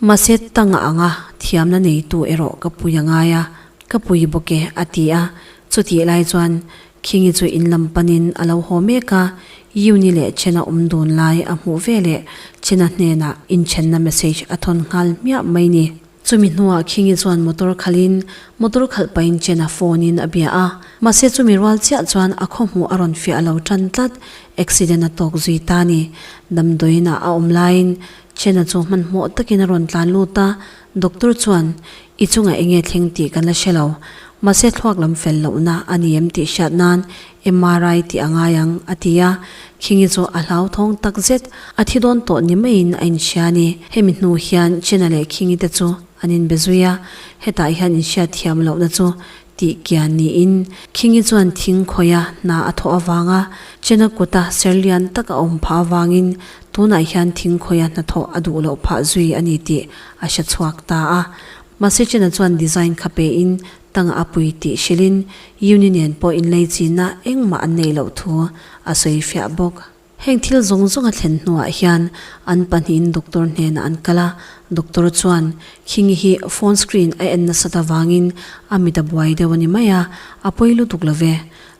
Mahse Tanga anga thiamna neitu erawh ka puia ngai a, ka pui bawk e, a ti a. Chutihlai chuan Khingi chu in lam panin a lo haw mek a, Yuni leh Chena awm dun lai a hmuh ve leh Chena hnenah inchhenna message a thawn nghal hmiah mai ni. Chumi hnuah Khingi chuan motor khalhin motor khalh pahin Chena phone-in a bia a, mahse chumi rual chiah chuan a khaw hmuh a rawn fiah a lo tan tlat, accident a tawk zui ta ni. Damdawiinah a awm laiin Chena chu hmanhmawh takin a rawn tlan lut a, Doctor chuan, I chungah enge thleng tih kan la hre lo, mahse thluak lam fel lohna a ni em tih hriat nan MRI tih a ngai ang, a ti a. Khingi chu a hlauthawng tak zet, a thi dawn tawh ni maiin a inhria a ni. Hemi hnu hian China leh Khingi te chu an inbe zui a, hetah hian inhriat thiam lohna chu Ti kian niin, Khingi chuan thing khawia hna a thaw avang a, Chena kuta ser lian tak a awm phah avangin tunah hian thing khawia hna thaw a duh loh phah zui a ni tih a hre chhuak ta a. Mahse Chena chuan design kha pein tanga a pui tih hrilhin, Uni nen pawh inleichina engmah an neih loh thu a sawi fiah bawk. Heng thil zawng zawng a thlen hnuah hian an pahnihin doctor hnenah an kal a, doctor chuan Khingi hi phone screen a en nasat avangin a mit a buai deuh a ni mai a, a pawi lutuk lo ve.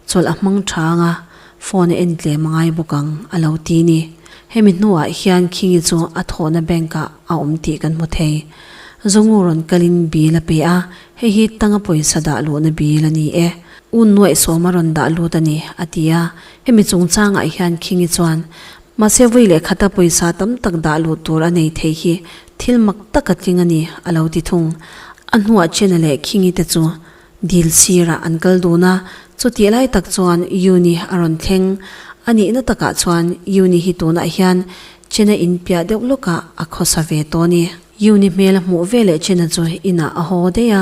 Chawlh a hmang tha ang a, phone a en tlem a ngai bawk ang, a lo ti a ni. Hemi hnuah hian Khingi chu a thawhna bank-ah a awm tih kan hmu thei. Zongu rawn kalin bil a pe a, hei hi tanga pawisa dah luhna bil a ni e, U Nuaihsawma rawn dah lut a ni, a ti a. Hemi chungchangah hian Khingi chuan, Mahse vui leh khata pawisa tam tak dah luh tur a nei thei hi thil mak taka tling a ni, a lo ti thung. A hnuah Chena leh Khingi te chu dil sirah an kal dun a, chutih lai tak chuan Yuni a rawn thleng. A nihna takah chuan Yuni hi tunah hian Chena in piah deuh lawkah a khawsa ve tawh a ni. Yuni hmel a hmuh veleh Chena chu inah a haw daih a,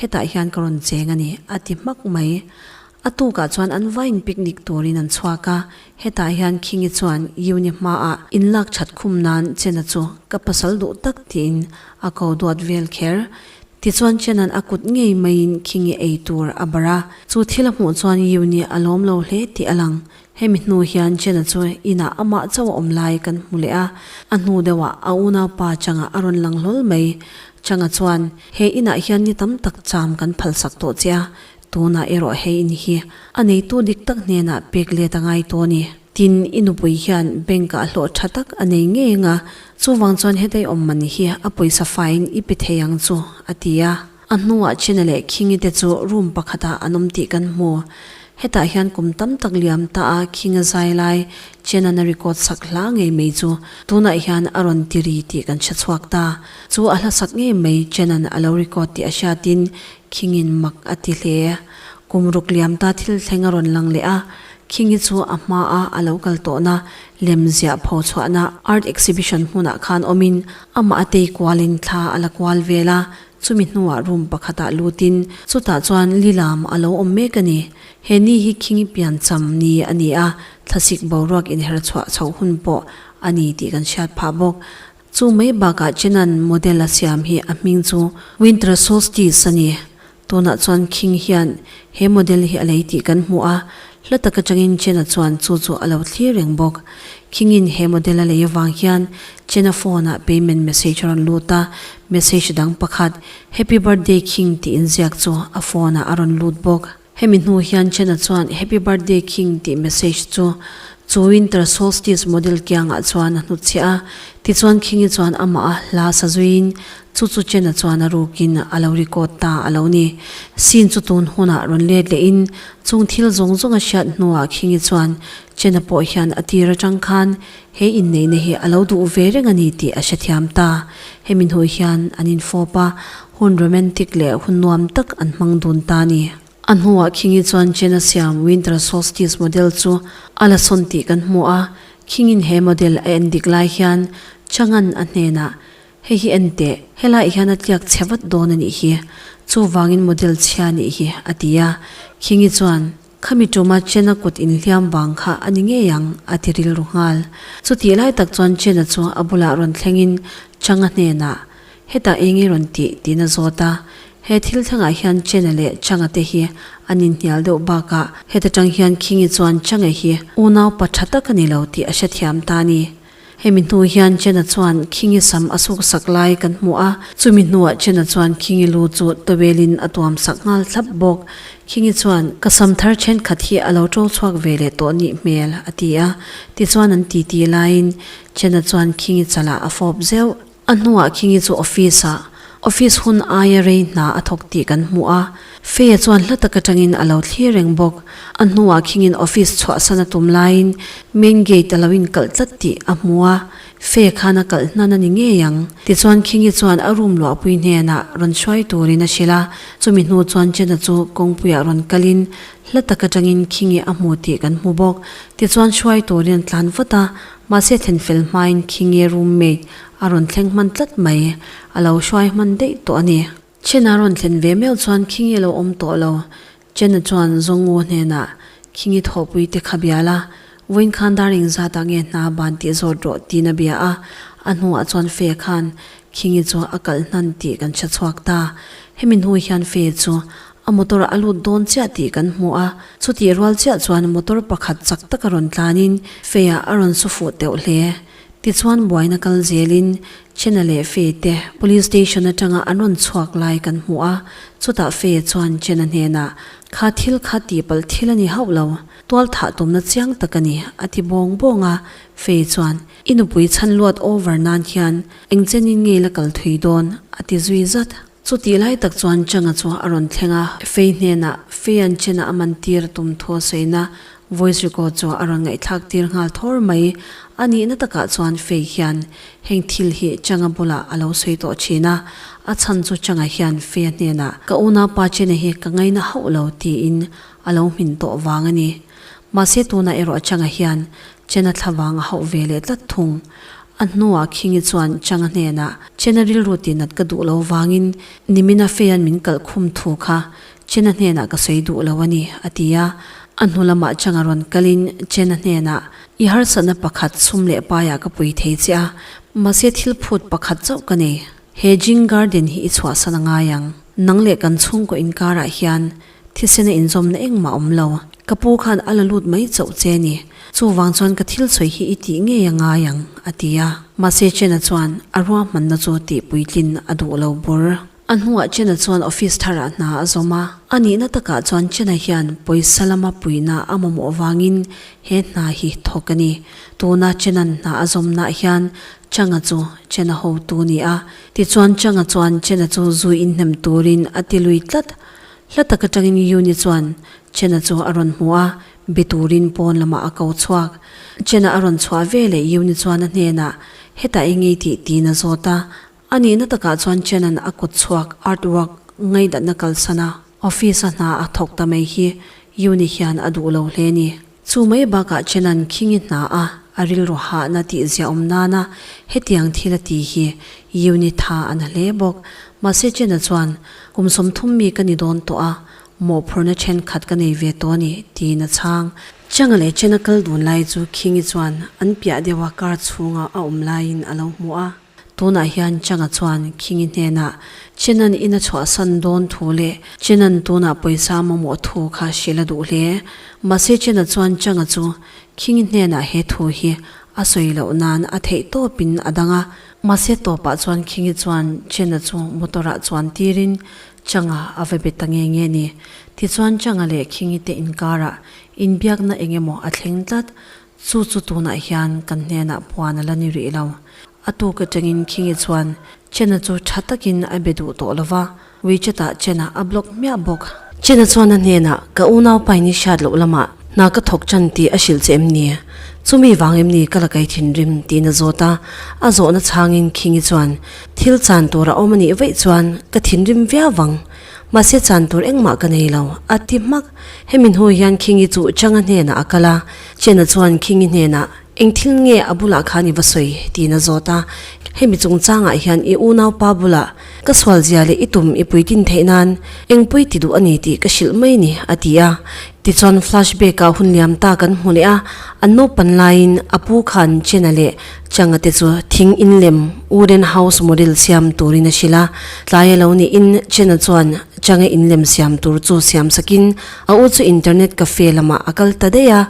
Hetah hian ka rawn cheng a ni, a ti hmak mai. A tukah chuan an va inpicnic turin an chhuak a. Hetah hian Khingi chuan Uni hmaah in lak that khum nan Chena chu ka pasal duh tak tiin a ko duat vel kher. Tichuan Chena'n a kut ngei maiin Khingi ei tur a barh a. Chu thil a hmuh chuan Uni a lawm lo hle tih a lang. Hemi hnu hian Jenna chu inah amah chauh a awm lai kan hmu leh a, a hnu deuhah a unaupa Changa a rawn lang hlawl mai. Changa chuan, He inah hian ni tam tak cham kan phalsak tawh che a, tunah erawh he in hi a neitu dik tak hnenah pek let a ngai tawh a ni. Tin, i nupui hian bank ah hlawh tha tak a nei ngei anga, chuvang chuan hetei awm mahni hi a pawisa faiin i pe thei ang chu, a ti a. A hnungah China leh Khingi te chu room pakhatah an awm tih kan hmu. Hetah hian kum tam tak liam ta a Khing a zai lai, China na record sak hla ngei mai chu tunah hian a rawn ti ri tih kan hre chhuak ta. Chu a hlasak ngei mai China-n a lo record tih a hriatin Khingi-n mak a ti hle. Kum ruk liam ta thil thleng a rawn lang leh a, Khingi chu a hma a a lo kal tawhna lem ziah pho chhuahna art exhibition hmunah khan awmin amah a tei kualin thla a la kual vel a, Chumi hnuah room pakhatah lutin, Chutah chuan Lilam a lo awm mek a ni. He ni hi khingi piancham ni a ni a, thlasik boruak inherchhuah chhoh hun pawh a ni tih kan hriat phah bawk. Chu mai bakah Chena'n model a siam hi a hming chu Winter Solstice a ni. Tunah chuan khing hian he model hi a lei tih kan hmu a, Hla tak atangin Chena chuan chu chu a lo thlir reng bawk. Khingin he model a lei avang hian Chena phone-ah payment message a rawn lut a, message dang pakhat, Happy birthday Khing tih inziak chu a phone-ah a rawn lut bawk. Hemi hnu hian Chena chuan Happy birthday Khing tih message chu chu Winter Solstice model kiangah chuan a hnutchhiah a. Tichuan Khingi chuan amaha hla sa zuiin Chu chu Chen-a chuan a rukin a lo record ta a lo ni. Scene chu tun hunah rawn let leh in, chung thil zawng zawng a hriat hnuah Khingi chuan Chen-a pawh hian a tir atang khan he inneihna hi a lo duh ve reng a ni tih a hrethiam ta. Hemi hnu hian an infawp a, hun romantic leh hun nuam tak an hmang dun ta a ni. A hnuah Khingi chuan Chen-a siam Winter Solstice model chu a la sawn tih kan hmu a, Khingin he model a en dik lai hian Chang'an a hnenah, Hei hi en teh, helaiah hian a tliak chhe vat dawn a nih hi, chuvangin model chhia a nih hi, a ti a. Khingi chuan, Khami tuma Chena kut inhliam vang kha a ni ngei ang, a ti rilru nghal. Chutih lai tak chuan Chena chu a bulah rawn thlengin Changa hnenah, Hetah eng i rawn tih? tiin a zawt a. He thil thlengah hian Chena leh Changa te hi an inhnial deuh bakah, heta tang hian Khingi chuan Changa hi unau pa tha tak a ni lo tih a hrethiam ta a ni. Hemi hnu hian Chena chuan Khingi sam a suk sak lai kan hmu a, chumi hnuah Chena chuan Khingi lu chu towelin a tuam sak nghal thlap bawk. Khingi chuan, Ka sam thar thenkhat hi a lo to chhuak ve leh tawh nih hmel, a ti a. Tichuan an titi laiin Chena chuan Khingi chalah a fawp zeuh. A hnuah Kingi chu office ah office hun aia rei hna a thawk tih kan hmu a, Fei-a chuan hla tak atangin a lo thlir reng bawk. A hnuah Kingin office chhuahsan a tum laiin main gate a lo inkalh tlat tih a hmu a, Fei-a khan a kalh hnan a ni ngei ang. Tichuan Kingi chuan a room luahpui hnenah rawn hruai turin a hrilh a, chumi hnu chuan Chena chu kawngpuiah rawn kalin hla tak atangin Kingi a hmu tih kan hmu bawk. Tichuan hruai turin a tlan vat a, Mahse thlen fel hmain khi nge room mate a rawn thleng hman tlat mai, a lo hruai hman daih tawh a ni. Chen a rawn thlen ve meuh chuan khi nge lo awm tawh lo. Chen a chuan Zawngu hnenah, Khi nge thawhpui te kha bial a, vawiin khan dar eng zatah nge hna ban tih zawt rawh tiin a bia a, a hnuah chuan Fee khan, Khi nge chu a kal hnan tih kan hre chhuak ta. Hemi hnu hian Fee chu A motor a lut dawn chiah tih kan hmu a, chutih rual chiah chuan motor pakhat chak taka rawn tlanin Fei-a a rawn saw fuh teuh hle. Tichuan buaina kal zelin Chena leh Fei te police station atanga an rawn chhuak lai kan hmu a, chutah Fei-a chuan Chena hnenah, Kha thil kha tihpalh thil a ni hauh lo, tual thah tumna chiang tak a ni, a ti bawng bawng a. Fei chuan, I nupui chhan luat over nan hian engchenin ngeila kal thui dawn? a ti zui zat. Chu tih lai tak chuan Changa chu a rawn thleng a, Fei hnenah Fei an chena a man tir tum thua sawiina voice record chu a rawn ngaihthlak tir nghal thawr mai. A nihna takah chuan Fei hian heng thil hi Changa bulah a lo sawi tawh thin a, a chhan chu Changa hian Fei-a hnenah ka una pa chena hi ka ngaina hauh lo tiin a lo hmin tawh vang a ni. Mahse tunah erawh Changa hian Chena thlavang a hauh ve leh tlat thung. A hnuah Khingi chuan Changa hnenah, Chena rilru ti nat ka duh lo vangin Nimina Feya'n min kalh khum thu kha Chena hnenah ka sawi duh lo a ni, a ti a. A hnu lamah Changa rawn kalin Chena hnenah, I harsatna pakhat sum leh paiah ka pui thei che a, mahse thil phut pakhat chauh ka nei. He Jing Garden hi i chhuahsan a ngai ang. Nang leh kan chhungkaw inkarah hian, Thisen a inzawmna engmah a awm lo. Ka pu khan a la lut mai chauh che a ni. Chuvang chuan ka thil sawi hi i tih ngei a ngai ang, a ti a. Mahse Chen-a chuan a ruahmanna chu tihpuitlin a duh lo bur. A hnungah Chen-a chuan office tharah hna a zawm a. A nihna takah chuan Chen-a hian pawisa lama puina a mamawh vangin he hna hi thawk a ni. Tuna Chen-a'n hna a zawmnah hian Chang-a chu Chen-a hotu a ni a. Tichuan Chang-a chuan Chen-a chu zui inhnem turin a ti lui tlat. Hla tak atangin Yuni chuan Chena chu a rawn hmu a, be turin pawn lamah a ko chhuak. Chena a rawn chhuah veleh Yuni chuan a hnenah, Hetah i ngei tih? tiin a zawt a. A nihna takah chuan Chena'n a kut chhuak artwork ngaihdatna kalsana office-a hna a thawk ta mai hi Yuni hian a duh lo hle ni. Chu mai bakah Chenan khing i hna a, a rilru hahna tih ziah awm nana hetiang thil a ti hi Yuni tha a na hle bawk. Mahse Chena chuan, Kum sawmthum mi ka ni dawn tawh a, mawhphurhna thenkhat ka nei ve tawh a ni, tiin a chhang. Changa leh Chena kal dun lai chu Khingi chuan an piah deuha car chhungah a awm laiin a lo hmu a. Tunah hian Changa chuan Khingi hnenah Chenan ina chhuahsan dawn thu leh Chenan tunah pawisa mamawh thu kha hre la duh hle. Mahse Chena chuan Changa chu Khingi hnenah he thu hi a sawi loh nan a theih tawpin a dang a. Mahse tawpah chuan Khingi chuan Chena chu motor-ah chuan tirin Changa a va be ta nge nge ni. Tichuan Changa leh Khingi te inkarah inbiakna engemaw a thleng tlat. Chu chu tunah hian kan hnenah puan a la ni rih lo. A tuk atangin Khingi chuan Chena chu tha takin a be duh tawh lova, Wechat ah Chena a block hmiah bawk. Chena chuan a hnenah, Ka unau pa i ni hriat loh lamah hna ka thawk tan tih a hrilh che em ni? Chumi vang em ni ka la kei thin rim? tiin a zawt a. A zawhna chhangin Khingi chuan, Thil chan tur a awm a nih vaih chuan ka thinrim viau vang. Mahse chan tur engmah ka nei lo, a ti hmak. Hemi hnu hian Khingi chu Changa hnenah a kal a, Chena chuan Khingi hnenah, Eng thil nge a bulah khan i va sawi? tiin a zawt a. Hemi chungchangah hian i unau pa bulah ka sualzia leh i tum i puitin theih nan, Eng pui ti duh a ni tih ka hrilh mai ni, a ti a. Tichuan flashback ah hun liam ta kan hmu leh a, an naupan laiin a pu khan Chena leh Changa te chu thing in lem, wooden house model, siam turin a hrilh a. Tlai a lo niin Chena chuan Changa in lem siam tur chu siam sakin a u chu internet cafe lamah a kal ta daih a.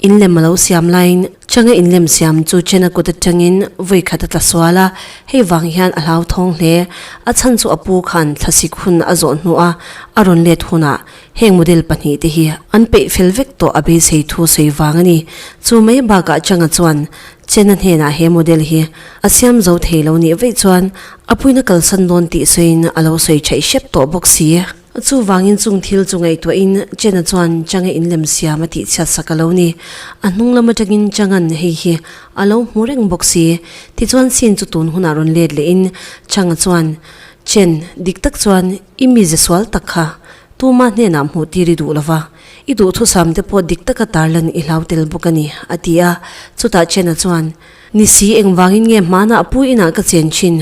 In lem a lo siam laiin Changa in lem siam chu Chena kut atangin vawi khat a tla sual a, hei vang hian a hlauthawng hle. A chhan chu a pu khan thlasik hun a zawh hnu a, a rawn let hunah Heng model pahnih te hi an peih fel vek tawh a beisei thu sawi vang a ni. Chu mai bakah Changa chuan Chenna hnenah he model hi a siam zo thei lo nih vaih chuan a puina kalsan dawn tih sawiin a lo sawi thaih hrep tawh bawk si. Chuvangin chung thil chu ngaihtuahin Chenna chuan Changa in lem siam a tih chhiat sak a lo ni. A hnung lam atangin Changa'n hei hi a lo hmu reng bawk si. Tichuan scene chu tun hunah rawn let lehin Changa chuan Chen, Dik tak chuan i mize sual tak kha Tuma hnenah hmuh tir i duh lo va, i duhthusam te pawh dik taka tarlan i hlau tel bawk a ni, a ti a. Chutah Chen-a chuan, Ni si, engvangin nge hmana a pu inah ka chen thin?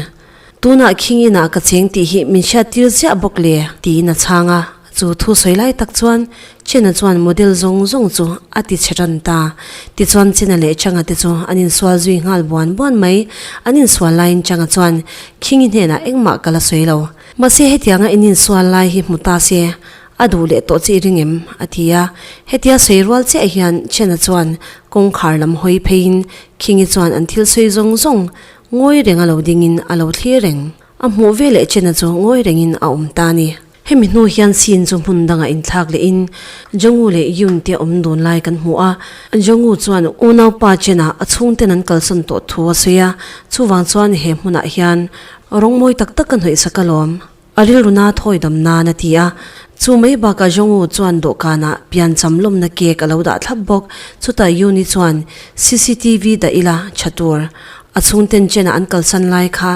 Tunah Khing inah ka cheng tih hi min hriat tir ziah bawk le? tiin a chhang a. Chu thu sawi lai tak chuan Chen-a chuan model zawng zawng chu a ti chhe tan ta. Tichuan Chen-a leh Chang-a te chu an insual zui nghal buan buan mai. An insual laiin Chang-a chuan, Khingi hnenah engmah ka la sawi lo. Mahse hetianga in insual lai hi hmu ta se, a duh leh tawh che i ring em? a ti a. Hetia sawi rual chiah hian Chen-a chuan kawngkhar lam hawi pheiin Khingi chuan an thil sawi zawng zawng ngawi renga lo dingin a lo thlir reng. A hmuh veleh Chen-a chu ngawi rengin a awm ta a ni. Hemi hnu hian scene chu hmun dangah inthlak leh in Jonghu leh Yoon te awm dun lai kan hmu a, Jonghu chuan Unaupa Chen-a a chhungten an kalsawn tawh thu a sawi a, chuvang chuan he hmunah hian rawng mawi tak tak ka hnawihsak alawm, a rilruna thawidam nan a ti a, chu mai bakah Jonghu chuan dawhkanah pian cham lawmna cake a lo dah thlap bawk, chutah Yoon-i chuan cctv dah ila tha tur a chhungten Chen-a an kalsan lai kha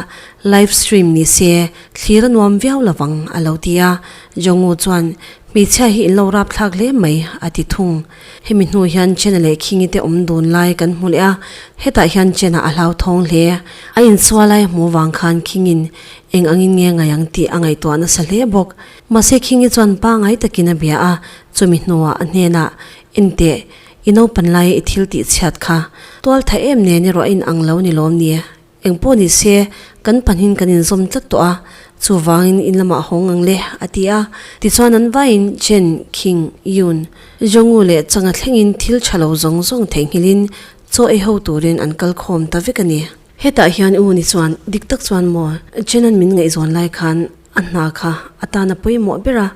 live stream ni se Thlir a nuam viau lo vang, a lo ti a. Jong-u chuan, Hmeichhia hi in lo rapthlak hle mai, a ti thung. Hemi hnu hian Chena leh Khingi te awm dun lai kan hmu leh a, hetah hian Chena a hlauthawng hle. A insual lai hmuh vang khan Khingin, Eng angin nge ngaih ang tih a ngaihtuah nasa hle bawk. Mahse Khingi chuan pangngai takin a bia a, chumi hnuah a hnenah, Enteh, i naupan laia i thil tihchhiat kha tual thah em nen i rawh a in ang lo ni lawm ni? Engpawh ni se, kan pahnin kan inzawm tlat tawh a, chuvangin in lamah hawng ang le, a ti a. Tichuan an vaiin Chen, Khing, Yun, Zhongwu leh Changa thlengin thil tha lo zawng zawng theihnghilhin chaw ei ho turin an kal khawm ta vek a ni. Hetah hian U ni chuan dik tak chuan maw Chen-a'n min ngaihzawn lai khan, A hna kha a tan a pawimawh ber a,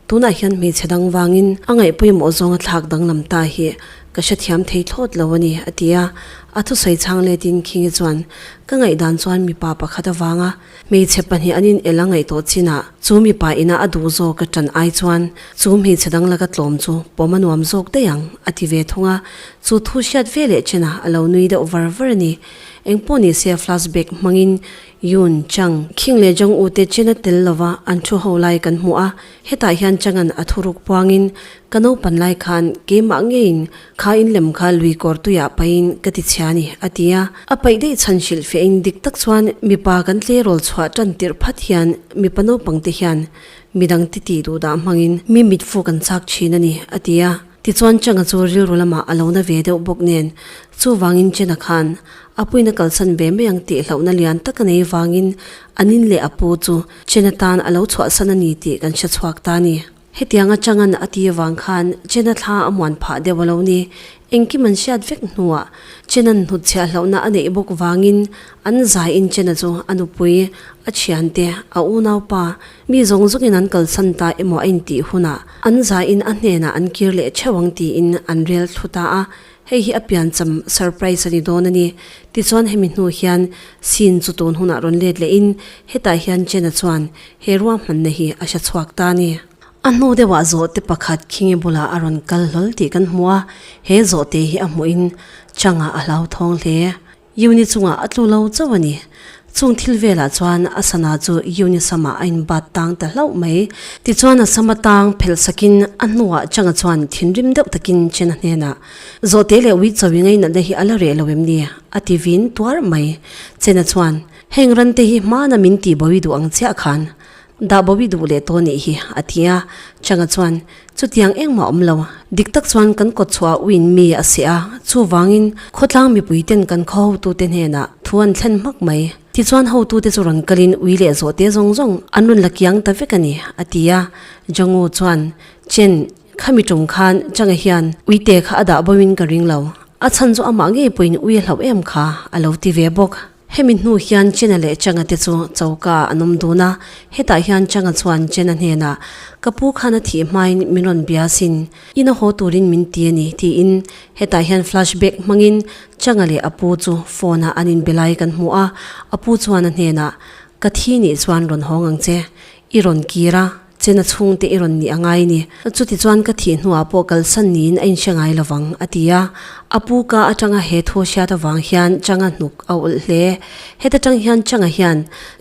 tunah hian hmeichhe dang vangin a ngaih pawimawh zawnga thlak danglam ta hi ka hrethiam thei thlawt lo a ni, a ti a. A thusawi chhang leh Tin Khingi chuan, Ka ngaih dan chuan mipa pakhat avanga hmeichhe pahnih an inel a ngaih tawh chinah chu mipa ina a duh zawk ka tan ai chuan chu hmeichhe dang laka tlawm chu pawm a nuam zawk daih ang, a ti ve thung a. Chu thu hriat veleh china a lo nui deuh var var a ni. Engpawh nise flashback hmangin Yun Chang, Khing leh Jong U te chena tel lova an thu ho lai kan hmu a, hetah hian Chang-a'n a thu ruk puangin, Ka naupan lai khan keimah ngeiin kha in lem kha lui kawrtuiah paihin ka ti chhia a ni, a ti a. A paih daih chhan hrilh fiahin dik tak chuan mipa kan tleirawl chhuah tan tirh phat hian mipa naupangte hian midang titi duhdah hmangin mi mitfuk an chak thin a ni, a ti a. Tichuan Changa chu rilru lamah a lo na ve deuh bawk nen, chuvangin Chena khan a puina kalsan ve mai ang tih hlauhna lian tak a nei vangin a nin leh a pu chu Chena tan a lo chhuahsan a ni tih kan hre chhuak ta ni. Hetianga Changa'n a ti avang khan Chena thla a muan phah deuh a lo ni. Engkim an hriat vek hnuah Chena'n hnutchhiah hlauhna a neih bawk vangin an zaiin Chena chu a nupui, a thiante, a unaupa, Mi zawng zawngin an kalsan ta emaw a intih hunah an zain a hnenah an kir leh theuh ang tiin an rel thlu ta a, hei hi a piancham surprise a ni dawn a ni. Tichuan hemi hnu hian scene chu tun hunah rawn let lehin hetah hian Chen-a chuan he ruahmanna hi a hre chhuak ta a ni. A hnu deuhah zawhte pakhat Khinge bulah a rawn kal hlawl tih kan hmu a, he zawhte hi a hmuhin Chang-a a hlauthawng hle. Yuni chungah a tlu lo chauh a ni. Chung thil velah chuan a sana chu Yuni sama a inbat tang ta hlauh mai. Tichuan a sama tang phelh sakin a hnuah changa chuan thinrim deuh takin Chena hnenah, Zawhte leh Uitsawi ngeinatna hi a la reh lo em ni? a ti vin tuar mai. Chena chuan, Heng rante hi hmana min tihbawi duh ang chiah khan. Dah bo i duh leh tawh nih hi, a ti a. Changa chuan, Chutiang engmah awm lo. Dik tak chuan kan kawt chhuah uin mi a si a, chuvangin khawtlang mipui ten kan khaw-hotu te hnenah thu an thlen hmak mai. Tichuan hotu te chu rawn kalin ui leh zawh te zawng zawng an rawn la kiang ta vek a ni, a ti a. Jangu chuan, Chen, khami ṭum khan Changa hian ui te kha a dah boin ka ring lo. A chhan chu amah ngei pawhin ui a hlauh em kha a lo ti ve bawk. Hemi hnu hian Chena leh Changa te chu choka an awm dun a, hetah hian Changa chuan Chena hnenah, Ka pu khan a thih hmain min rawn bia sin, i na haw turin min ti a ni, tiin hetah hian flashback hmangin Changa leh a pu chu phone-ah an inbe lai kan hmu a, a pu chuan a hnenah, Ka thi nih chuan rawn hawng ang che, i rawn kir a, Chen a chhungte i rawn nih a ngai ni. Chuti chuan ka thih hnuah pawh kalsan niin a inhre ngai lo vang, a ti a. A pu ka atanga he thu a hriat avang hian Changa hnuk a awlh hle. Heta tang hian Changa hian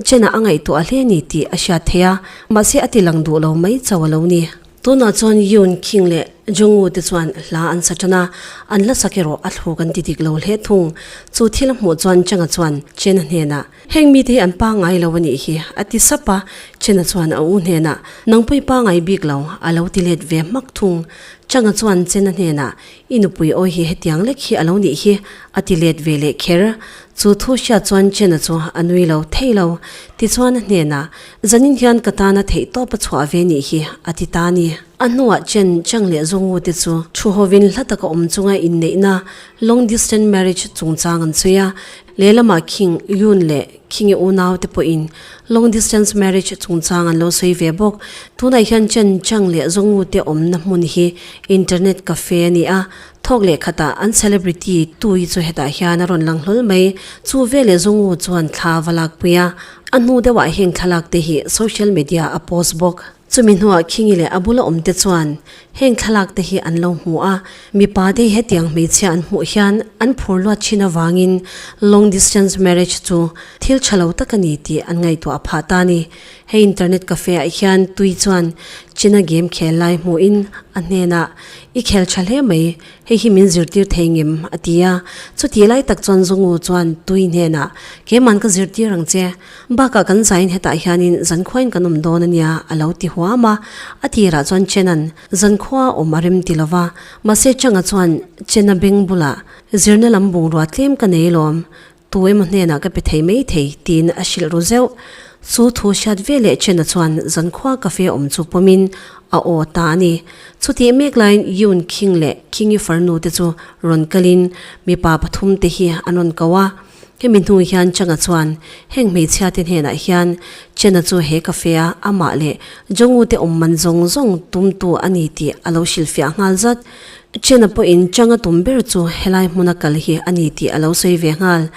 Chen-a a ngaihtuah hle a ni tih a hriat theih a, mahse a ti lang duh lo mai chauh a lo ni. Tunah chuan Yun Qing leh Zhongwu te chuan hla an sa tan a, an la sak erawh a thluk an ti dik lo hle thung. Chu thil a hmuh chuan Changa chuan Chen-a hnenah, Heng mite hi an pa ngai lo a nih hi, a ti sap a, Chhenna chuan a u hnenah, Nang pawh i pa ngai bik lo, a lo ti let ve hmak thung. Changa chuan Chenna hnenah, I nupui awi hi hetiang lek hi a lo nih hi, a ti let ve leh kher. Chu thu hriat chuan Chenna chu a nui lo thei lo. Tichuan a hnenah, Zanin hian ka tana theihtawp a chhuah ve nih hi, a ti ta ni. A hnuah Chen, Chang leh Zongu te chu thu hovin hla taka awm chunga inneihna, long distance marriage, chungchang an sawi a. Lehlamah Khing Yun leh Khinge unaute pawhin long distance marriage chungchang an lo sawi ve bawk. Tunah hian Chen Chang leh Zongmute awmna hmun hi internet cafe a ni a, thawk leh khatah an celebrity Tui chu hetah hian a rawn lang hlawl mai. Chu veleh Zongmu chuan thla a va lakpui a, a hnu deuhah heng thlalakte hi social media a post bawk. Chumi hnuah Khingi leh a bula awmte chuan heng thlalakte hi an lo hmu a, mipa te hetiang hmeichhia an hmuh hian an phur luat thin avangin long distance marriage chu thil tha lo tak a ni tih an ngaihtuah a phah ta a ni. Hei internet cafe ah hian Tui chuan China game khel lai hmuhin a hnenah, I khel tha hle mai, hei hi min zirtir thei ngem a ti a, chutih lai tak chuan Zongu chuan Tui hnenah, Keiman ka zirtir ang che, Bakah kan zain hetah hianin Zankhuain kan awm dawn a nia, a lo ti huam a. A tirah chuan Chena'n, Zankhua a awm a rem ti lova, mahse Changa chuan Chena beng bula zirna lam bungrua tlem ka nei lawm, tu emaw hnenah ka pe thei mai thei, tiin a hrilh ru zeuh. Chu thu hriat veleh Chena chuan Zankhua cafe awm chu pawmin a aw ta a ni. Chutih mek laiin Yun Khing leh Khing-i farnute chu rawn kalin mipa pathum te hi an rawn ko a. Hemi hnung hian Changa chuan heng hmeichhia te hnenah hian Chana chu he cafe a amah leh Jongu te awm man zawng zawng tumtu a ni tih a lo hrilhfiah nghal zat. Chana pawhin Changa tum ber chu helai hmuna kal hi a ni tih a lo sawi ve nghal.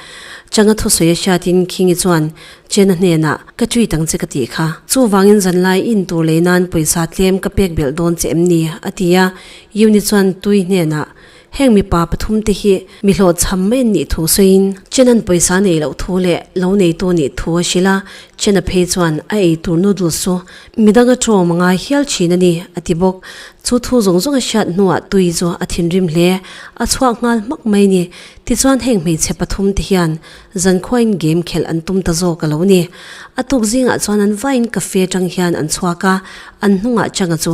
Changa thusawi a hriatin Khingi chuan Chana hnenah, Ka treat ang che ka tih kha. Chuvangin zanlai in tur lei nan pawisa tlem ka pek belh dawn che em ni? a ti a. Yuni chuan Tui hnenah, Heng mipa pathum te hi mi hlawhchham mai an nih thu sawiin Chena'n pawisa nei loh thu leh lo neitu nih thu a hrilh a, Chena phei chuan a ei tur noodles chu mi dang a tawm anga hial thin a ni, a ti bawk. Chu thu zawng zawng a hriat hnuah Tui chu a thinrim hle, a chhuak nghal hmak mai ni. Tichuan heng hmeichhe pathum te hian Zankhuain game khelh an tum ta zawk a lo ni. A tuk zingah chuan an vaiin cafe atang hian an chhuak a, an hnungah Changa chu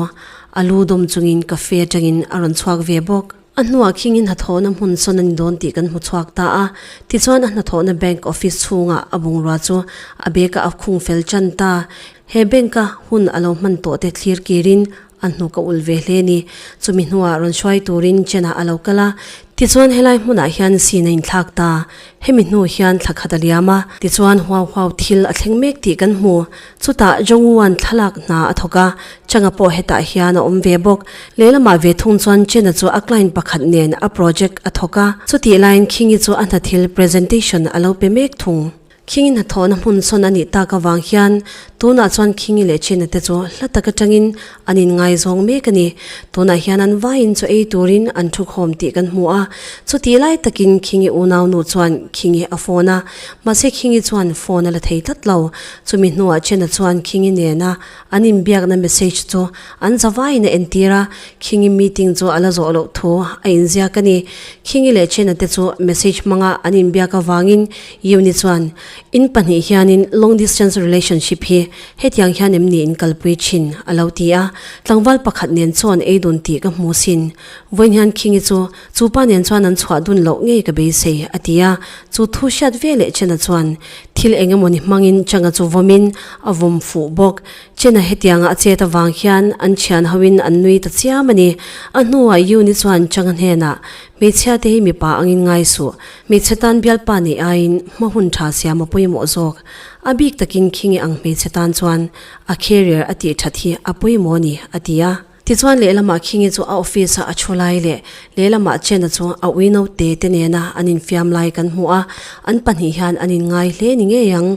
A lu dawm chungin cafe atangin a rawn chhuak ve bawk. A hnuah khingin hnathawhna hmun sawn a ni dawn tih kan hmu chhuak ta a. Tichuan a hnathawhna bank office chhungah a bungrua chu a bag-a a khung fel tan ta. He bank-a hun a lo hman tawh te thlir kirin a hnuk a ulh ve hle a ni. Chumi hnuah rawn hruai turin Chen-a a lo kal a, Tichuan helai hmunah hian sin a inthlak ta, hemi hnu hian thla khat a liam a, tichuan huau huau thil a thleng mek tih kan hmu. Chutah Zhongyuan thlalak hna a thawk a, Changa pawh hetah hian a awm ve bawk. Lehlamah ve thung chuan Chena chu a client pakhat nen a project a thawk a, chutih laiin Khingi chu a hnathil presentation a lo pe mek thung. Khingi hnathawhna hmun sawn a nih tak avang hian tunah chuan Khingi leh China te chu hla tak atangin an inngai zawng mek a ni. Tunah hian an vaiin chu ei turin an thu khawm tih kan hmu a. Chutih lai takin Khingi unaunu chuan Khingi a phone a, mahse Khingi chuan phone a la thei tlat lo. Chumi hnuah China chuan Khingi nena an inbiakna message chu an za vaiin a entir a, Khingi meeting chu a la zawh loh thu a inziak a ni. Khingi leh China te chu message hmanga an inbiak avangin Euni chuan, In pahnih hianin long distance relationship hi hetiang hian em niin kalpui thin, a lo ti a. Tlangval pakhat nen chuan ei dun tih ka hmu sin. Vawiin hian Khingi chu, Chu pa nen chuan an chhuah dun loh ngei ka beisei, a ti a. Chu thu hriat ve leh Chena chuan thil eng emaw ni hmangin Changa chu vawmin a vawm fuh bawk. Chena hetianga a chet avang hian an thian hoin an nui ta chiam a ni. A hnuah Euni chuan Changa hnenah, Hmeichhia te hi mipa angin ngai suh. Hmeichhe tan bialpa neih aiin hmahun tha siam a pawimawh zawk. A bik takin khi nge ang hmeichhe tan chuan a carrier a tih that hi a pawimawh a ni, a ti a. Tichuan lehlamah khi nge chu a office a a thu lai leh lehlamah chenna chu a ui naute te nena an infiam lai kan hmu a, an pahnih hian an inngai hle ni ngei ang.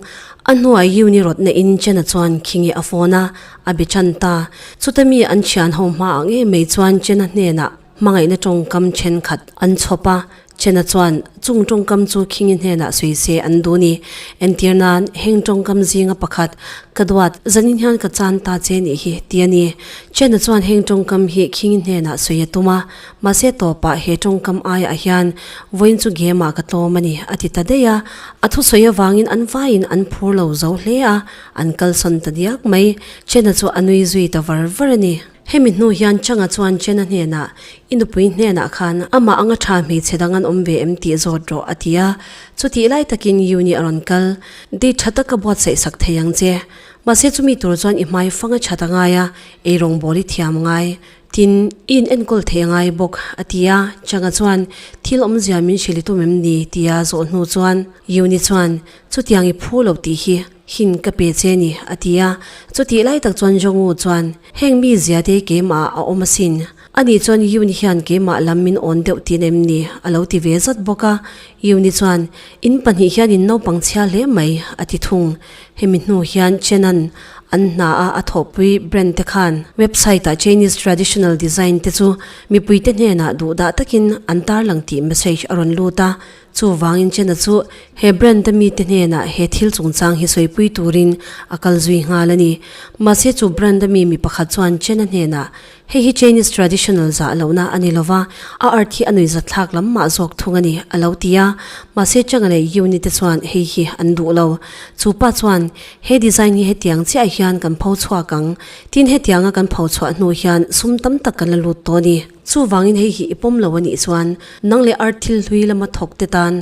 A hnuai Yiu ni rawt nehin chenna chuan khi nge a phone a, a be tan ta. Chuta mi an thianho hma ang em mai chuan chenna hnenah. Hmangaihna tawngkam thenkhat an chhawp a, Chen-a chuan chung tawngkam chu Khingi hnenah sawi se an duh ni. Entir nan heng tawngkam zinga pakhat ka duat, zanin hian ka chan ta che nih hi ti a ni. Chen-a chuan heng tawngkam hi Khingi hnenah sawi a tum a, mahse tawpah he tawngkam aiah hian vawiin chu gemah ka tlawm a ni a ti ta daih a, a thusawi avangin an vaiin an phur lo zo hle a, an kalsawn ta diak mai. Chen-a chu a nui zui ta var var a ni. Hemi hnu hian Changa chuan Chen-a hnenah, I nupui hnenah khan amah anga tha hmeichhe dang an awm ve em tih zawt rawh, a ti a. Chutih lai takin Yu-nih a rawn kal, Date tha taka buatsaih sak thei ang che. Mahse chumi tur chuan i hmai fanga chat a ngai a, ei rawngbâwl i thiam ngai. Tin, i inenkawl theih a ngai bawk, a ti a. Changa chuan, Thil awmzia min hrilh i tum em ni? tia zawh hnu chuan Yu-ni chuan, Chutiang i phu lo tih hi. Hin ka pe che ni, a ti a. Chutih lai tak chuan Jong-u chuan, Heng mi zia te keimah a awm asin. Ani chuan Yun hian keimah lam min awn deuh tiin em ni? a lo ti ve zat bawk a. Yun-i chuan, In pahnih hianin naupang chhia hle mai, a ti thung. Hemi hnu hian Chen-a'n an hna a a thawhpui brand te khan website-ah Chinese traditional design te chu mipuite hnenah duhdah takin an tarlang tih message a rawn lut a, Chuvangin Chen-a chu he Brand-a mite hnenah he thil chungchang hi sawipui turin a kal zui nghal a ni. Mahse, chu Brand-a mi mi pakhat chuan Chen-a hnenah, Hei hi Chinese traditional zah lohna a ni lo va, a art hi a nuihzat thlak lam mah zawk thung a ni, a lo ti a. Mahse, Cheng-a leh Yuni te chuan hei hi an duh lo. Chu pa chuan, He design hi hetiang chiah hian kan pho chhuak ang. Tin hetianga kan pho chhuah hnu hian sum tam tak kan la lut tawh a ni. Chuvangin hei hi i pawm lo a nih chuan nang leh ar thil hlui lama thawkte tan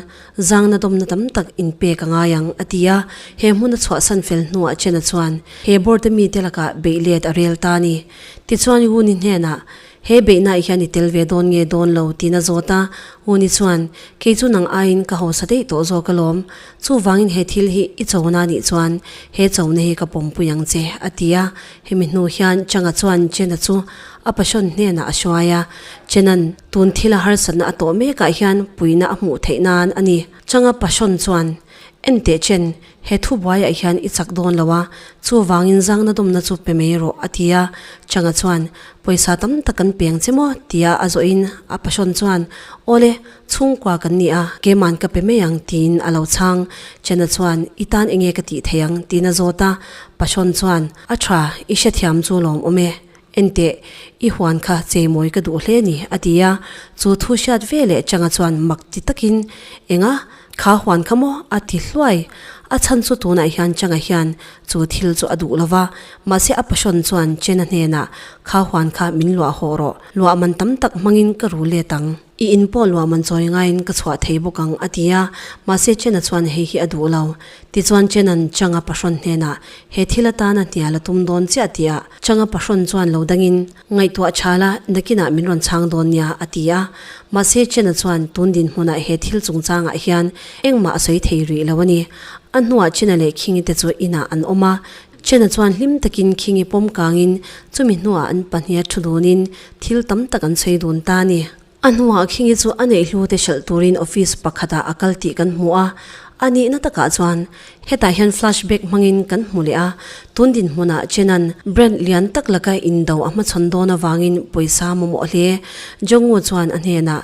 zangna dawmna tam tak inpek a ngai ang, a ti a. He hmuna chhuahsan fel hnuah Chen-a chuan he Board-a mite lakah beih let a rel ta a ni. Tichuan Wuni hnenah, He beihnaah hian i tel ve dawn nge dawn lo, tiin a zawt a. Wuni chuan, Kei chu nang aiin ka hausa daih tawh zawk alawm. Chuvangin he thil hi i chona nih chuan he chona hi ka pawmpui ang che, a ti a. Hemi hnu hian Changa chuan Chena chu a pasawn hnenah a hruai a. Chena'n tun thil a harsatna a tawh mekah hian puina a hmuh theih nan a ni. Changa pasawn chuan, Enteh Chen, he thubuaiah hian i chak dawn lo a, chuvangin zangna dumna chu pe mai rawh, a ti a. Changa chuan, Pawisa tam tak kan peng che maw? tia a zawhin a pasawn chuan, Aw le, Chhungkua kan ni a, keima'n ka pe mai ang, tiin a lo chhang. Chena chuan, I tan enge ka tih theih ang? tiin a zawt a. Pa Shawn chuan, A tha, i hrethiam chu lawm awm e. Enteh, i huan kha cheimawi ka duh hle ni, a ti a. Chu thu hriat ve leh Changa chuan mak ti takin, Enga? Kha huan kha maw? a ti hluai. A chhan chu tunah hian Changa hian chu thil chu a duh lo va, mahse a pa Shawn chuan Chena hnenah, Kha huan kha min luah haw rawh, luah man tam tak hmangin ka ru let ang. I in pawh luah man chawi ngaiin ka chhuah thei bawk ang, a ti a. Mahse Chen-a chuan hei hi a duh lo. Tichuan Chen-a'n Chang-a pahrawn hnenah, He thil atana hnial a tum dawn chiah tih a. Chang-a pahrawn chuan lo dangin, Ngaihtuah chhal a, nakinah min rawn chhang dawn nia, a ti a. Mahse Chen-a chuan tun dinhmunah he thil chung changah hian engmah a sawi thei rih lo a ni. A hnuah Chen-a leh Khing-i te chu inah an awm a, Chena chuan hlim takin khinge pawm kangin chumi hnuah an pahniha thu dunin thil tam tak an sawi dun ta a ni. A hnuah khinge chu a neih hlute hralh turin office pakhatah a kal tih kan hmu a, a nihna takah chuan hetah hian flashback hmangin kan hmu leh a, tun dinhmunah Chena'n brand lian tak laka in do a hmachhawn dawn avangin pawisa mamawh hle Jongngu chuan a hnenah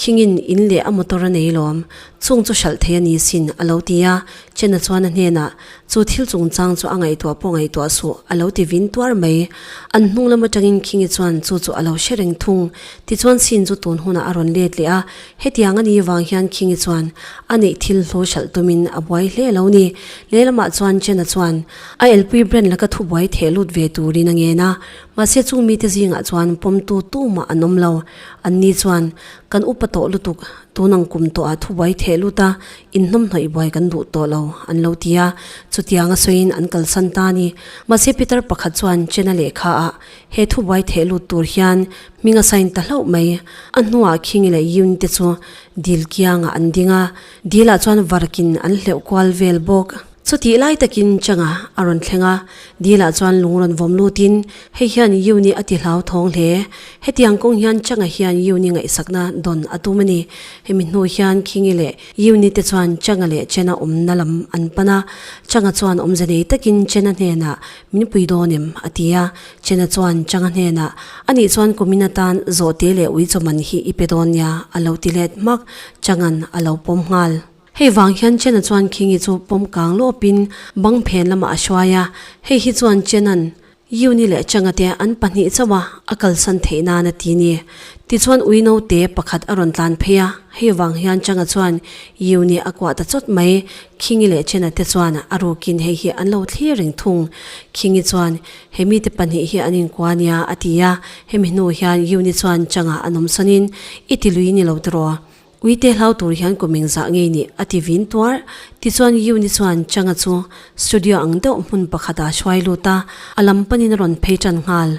khingin in leh a motor a nei lawm chung chu hralh thei a ni sin a lo ti a, Chena chuan a hnenah Chu thil chungchang chu a ngaihtuah pawh ngaihtuah suh, a lo ti vin tuar mai. An hnunglam atangin Khingi chuan chu chu a lo hre reng thung. Tichuan scene chu tun hunah a rawn let leh a, hetiang a nih vang hian Khingi chuan a neih thil hlu hralh tumin a buai hle lo ni. Lehlamah chuan Chen-a chuan, A elpui brand la ka thu buai theh lut ve turin a ngen a, mahse chung mite zingah chuan pawmtu tu mah an awm lo. Anni chuan, Kan upa tawh lutuk, tun ang kum tawh a thu buai theh lut a, Inhnawmhnawih buai kan duh tawh lo, an lo ti a, chutianga sawiin an kalsan ta a ni. Mahse Peter pakhat chuan China lehkha ah he thu buai theh lut tur hian hming a sign ta hlauh mai. A hnuah Khingi leh Yun te chu dil kiangah an ding a, dilah chuan varkin an hleuh kual vel bawk. Chutih lai takin Changa a rawn thleng a, Dila chuan lung rawn vawm lutin, Hei hian Yuni a ti hlau thawng hle. Hetiang kawng hian Changa hian Yuni ngaihsakna dawn a tum a ni. Hemi hnu hian Khingi leh Yuni te chuan Changa leh Chena awmna lam an pan a. Changa chuan awmze nei takin Chena hnenah, Min pui dawn em? a ti a. Chena chuan Changa hnenah, Anih chuan kumin atan zawh te leh ui chawman hi i pe dawn nia, a lo ti let hmak. Changa'n a lo pawm nghal. Hei vang hian Chen-a chuan King-i chu pawm kang lawpin bang phen lamah a hruai a, hei hi chuan Chen-a'n Yuni leh Cheng-a te an pahnih chauha a kalsan theih nan a ti ni? Tichuan ui naute pakhat a rawn tlan phei a, hei vang hian Cheng-a chuan Yuni a kuah ta chawt mai, King-i leh Chen-a te chuan a rukin hei hi an lo thlir reng thung. King-i chuan He mite pahnih hi an inkua a nia a ti a, hemi hnu hian Yuni chuan Cheng-a a nawmsawnin I ti lui ni lo tiraw? Uite hlau tur hian ku meng zah ngei ni? a ti vin tuar. Tichuan Yuni chuan Changa chu studio ang deuh hmun pakhat ah hruai lut a, a lam panin a rawn phei tan nghal.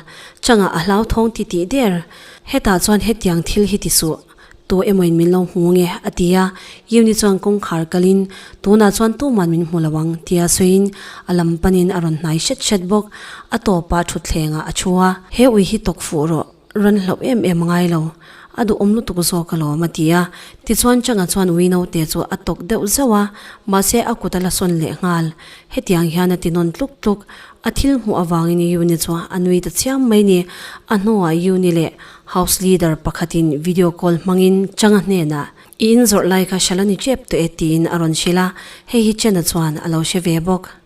Changa a hlau thawng ti tih der. Hetah chuan hetiang thil hi ti suh tu emawiin min lo hmu nge? a ti a, Yuni chuan kawngkhar kalin, Tunah chuan tuman min hmu lo ang, ti a sawiin a lam panin a rawn hnai hret hret bawk. A tawpah thutthlengah a thu a, He ui hi tawk fuh rawh. Rawn hlauh em em ngai lo, a duhawm lutuk zawk alawm, a ti a. Tichuan Changa chuan Ui naute chu a tawk deuh zeuh a, mahse a kut a la sawn leh nghal. Hetiang hian a tinawn tluk tluk. A thil hmuh avangin Yuni chu a nui ta chiam mai ni. A hnawah Yuni leh House Leader pakhatin video call hmangin Changa hnenah, I inzawrh lai kha hre la ni ṭep tawh e, tiin a rawn hrilh a. Hei hi Chena chuan a lo hre ve bawk.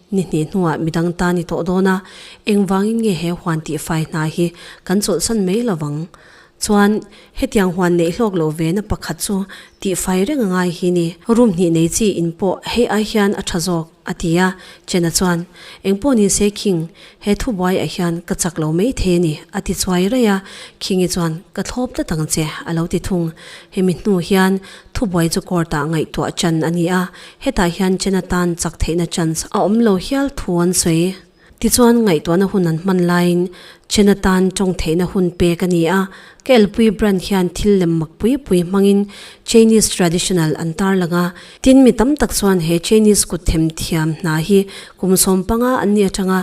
Ni hnih hnuah midang tan i tawh dawn a, eng vangin nge he huan tih fai hna hi kan chawlhsan mai lo vang? Chuan, hetiang huan neih hlawk lo ve na pakhat chu tih fai reng a ngai hi ni? Rum hnih nei chi in pawh hei ai hian a tha zawk, a ti a, Chen-a chuan, Engpawh nin se Khing, he thubuai a hian ka chak lo mai thei a ni, a ti chuai raih a, Khing-i chuan, Ka thlawp tlat ang che, a lo ti thung, hemi hnu hian thubuai chu court-ah ngaihtuah chan a ni a, Hetah hian China tan chak theihna chance a awm lo hial thu an sawi. Tichuan ngaihtuahna hun an hman laiin China tan tawng theihna hun pek a ni a, ka elpui brand hian thil lem mak pui pui hmangin Chinese traditional an tar lang a, tin mi tam tak chuan he Chinese kutthem thiam hna hi kum sawm panga an ni atanga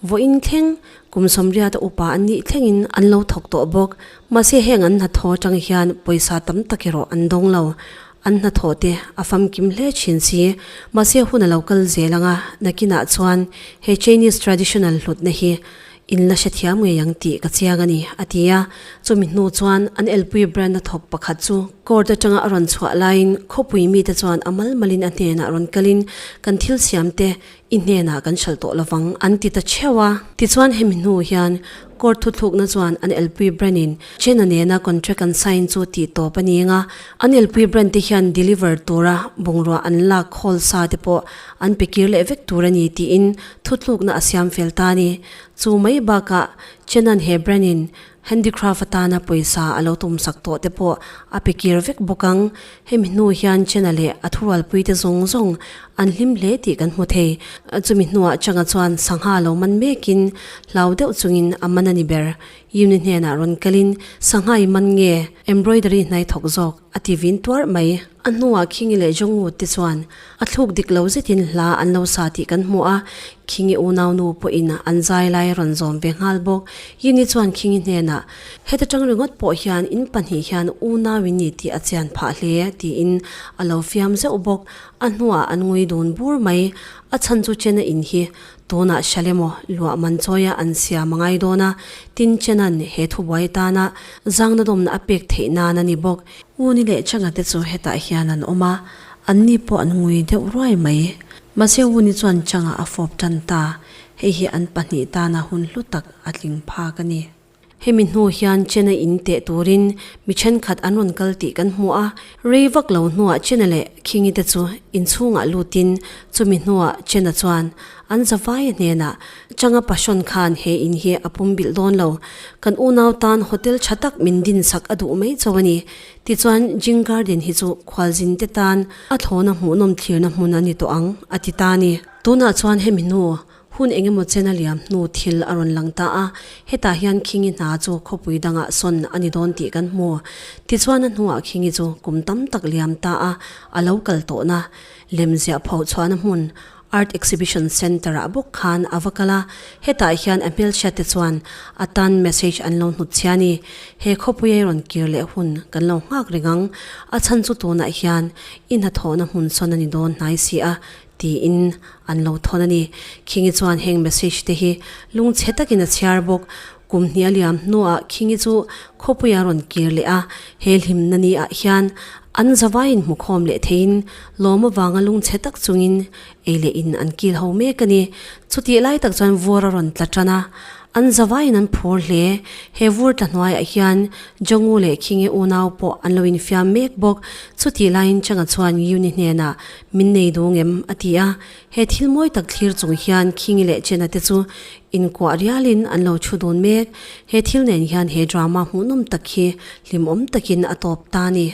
vawiin thleng kum sawmriata upa an nih thlengin an lo thawk tawh bawk, mahse heng an hna thaw atang hian pawisa tam tak erawh an dawng lo. An hnathawh te a famkim hle thin si. Mahse hun a lo kal zel ang a, nakinah chuan he Chinese traditional hlutna hi in la hre thiam ngei ang tih ka chiang a ni, a ti a. Chumi hnu chuan an elpui brand hnathawk pakhat chu court atanga a rawn chhuah laiin khawpui mite chuan a malmalin a hnenah rawn kalin kan thil siamte I hnenah kan hralh tawh lovang, an ti ta theuh a. Tichuan hemi hnu hian Court thuthlukna chuan an elpui brand-in China nena contract an sign chu tih tawp a ning a, an elpui brand te hian deliver tura bungrua an lak khawl sa te pawh an pe kir leh vek tur a ni tiin thuthlukna a siam fel ta a ni. Chu mai bakah China-n he brand-in Handicraft atana pawisa a lo tum sak tawh te pawh a pe kir vek bawk ang. Hemi hnu hian China leh a thurualpui te zawng zawng an hlim hle tih kan hmu thei. Chumi hnuah Changa chuan sangha lo man mekin hlau deuh chungin a man a ni ber. Yuni hnenah rawn kalin, Sangha i man nge? Embroidery hnai thawk zawk. A ti vin tuar mai. A hnuah Khingi leh Jongwu te chuan a thluk dik lo zetin hla an lo sa tih kan hmu a, Khingi unau nu pawhin an zai lai a rawn zawm ve nghal bawk. Yini chuan Khingi hnenah, Heta tang ringawt pawh hian in pahnih hian unau in ni tih a chian phah hle, tiin a lo fiam zeuh bawk. A hnuah an ngui dun bur mai. A chhan chu Chena in hi Tunah hria le maw, luah man chawiah an siam a ngai dawn a, tin Chena'n he thubuai tana zangna dawmna a pek theih nan a ni bawk. Uni leh Changa te chu hetah hian an awm a, anni pawh an ngui deuh ruai mai. Mahse Uni chuan Changa a fawp tan ta, hei hi an pahnih tana hun hlu tak a tling phak a ni. Hemi hnu hian China in teh turin mi thenkhat an rawn kal tih kan hmu a, rei vak lo hnuah China leh Khingi te chu inchhungah lutin chumi hnuah China chuan an zavaia hnenah, Changa Pashon khan he in hi a pumbilh dawn lo, kan unau tan hotel tha tak min dinsak a duh mai cho a ni, tichuan Jing Garden hi chu khualzinte tan a thlawna hmuhnawm thlirna hmun a ni tawh ang, a ti ta a ni. Tunah chuan hemi hnu. Hun eng emaw chen a liam hnu thil a rawn lang ta a, hetah hian Khingi hna chu khawpui dangah sawn a ni dawn tih kan hmu. Tichuan a hnuah Khingi chu kum tam tak liam ta a, a lo kal tawhna lemziah pho chhuahna hmun Art Exhibition Centre-ah bawk khan a va kal a, hetah hian a hmelchhiatte chuan a tan message an lo hnut chhian i, He khawpuiae rawn kir leh hun kan lo nghak ringang, a chhan chu tunah hian i hnathawhna hmun sawn a ni dawn hnai si a, Tiin an lo thawn a ni. Khingi chuan heng message te hi lung chhe takin a chhiar bawk. Kum hnial liam hnuah Khingi chu khawpui a rawn kir leh a. He hlimna ni ah hian an zavai in hmukhawm leh thei in lawm avanga lung chhe tak chung in ei leh in an kil ho mek a ni. Chutih lai tak chuan vuar a rawn tla tan a. An zavai in an phur hle. He vur tla hnuai ah hian Jongu leh Khingi unau pawh an lo infiam mek bawk. Chutih lai in Changa chuan Yuni hnenah. Min nei dûng em? a ti a, he thil mawi tak thlîr chûng hian Khingi leh Chena te chu inkuah rialin an lo ṭhu dûn mêk. He thil nên hian he drama hmuhnawm tak hi hlimawm takin a tâwp ta a ni.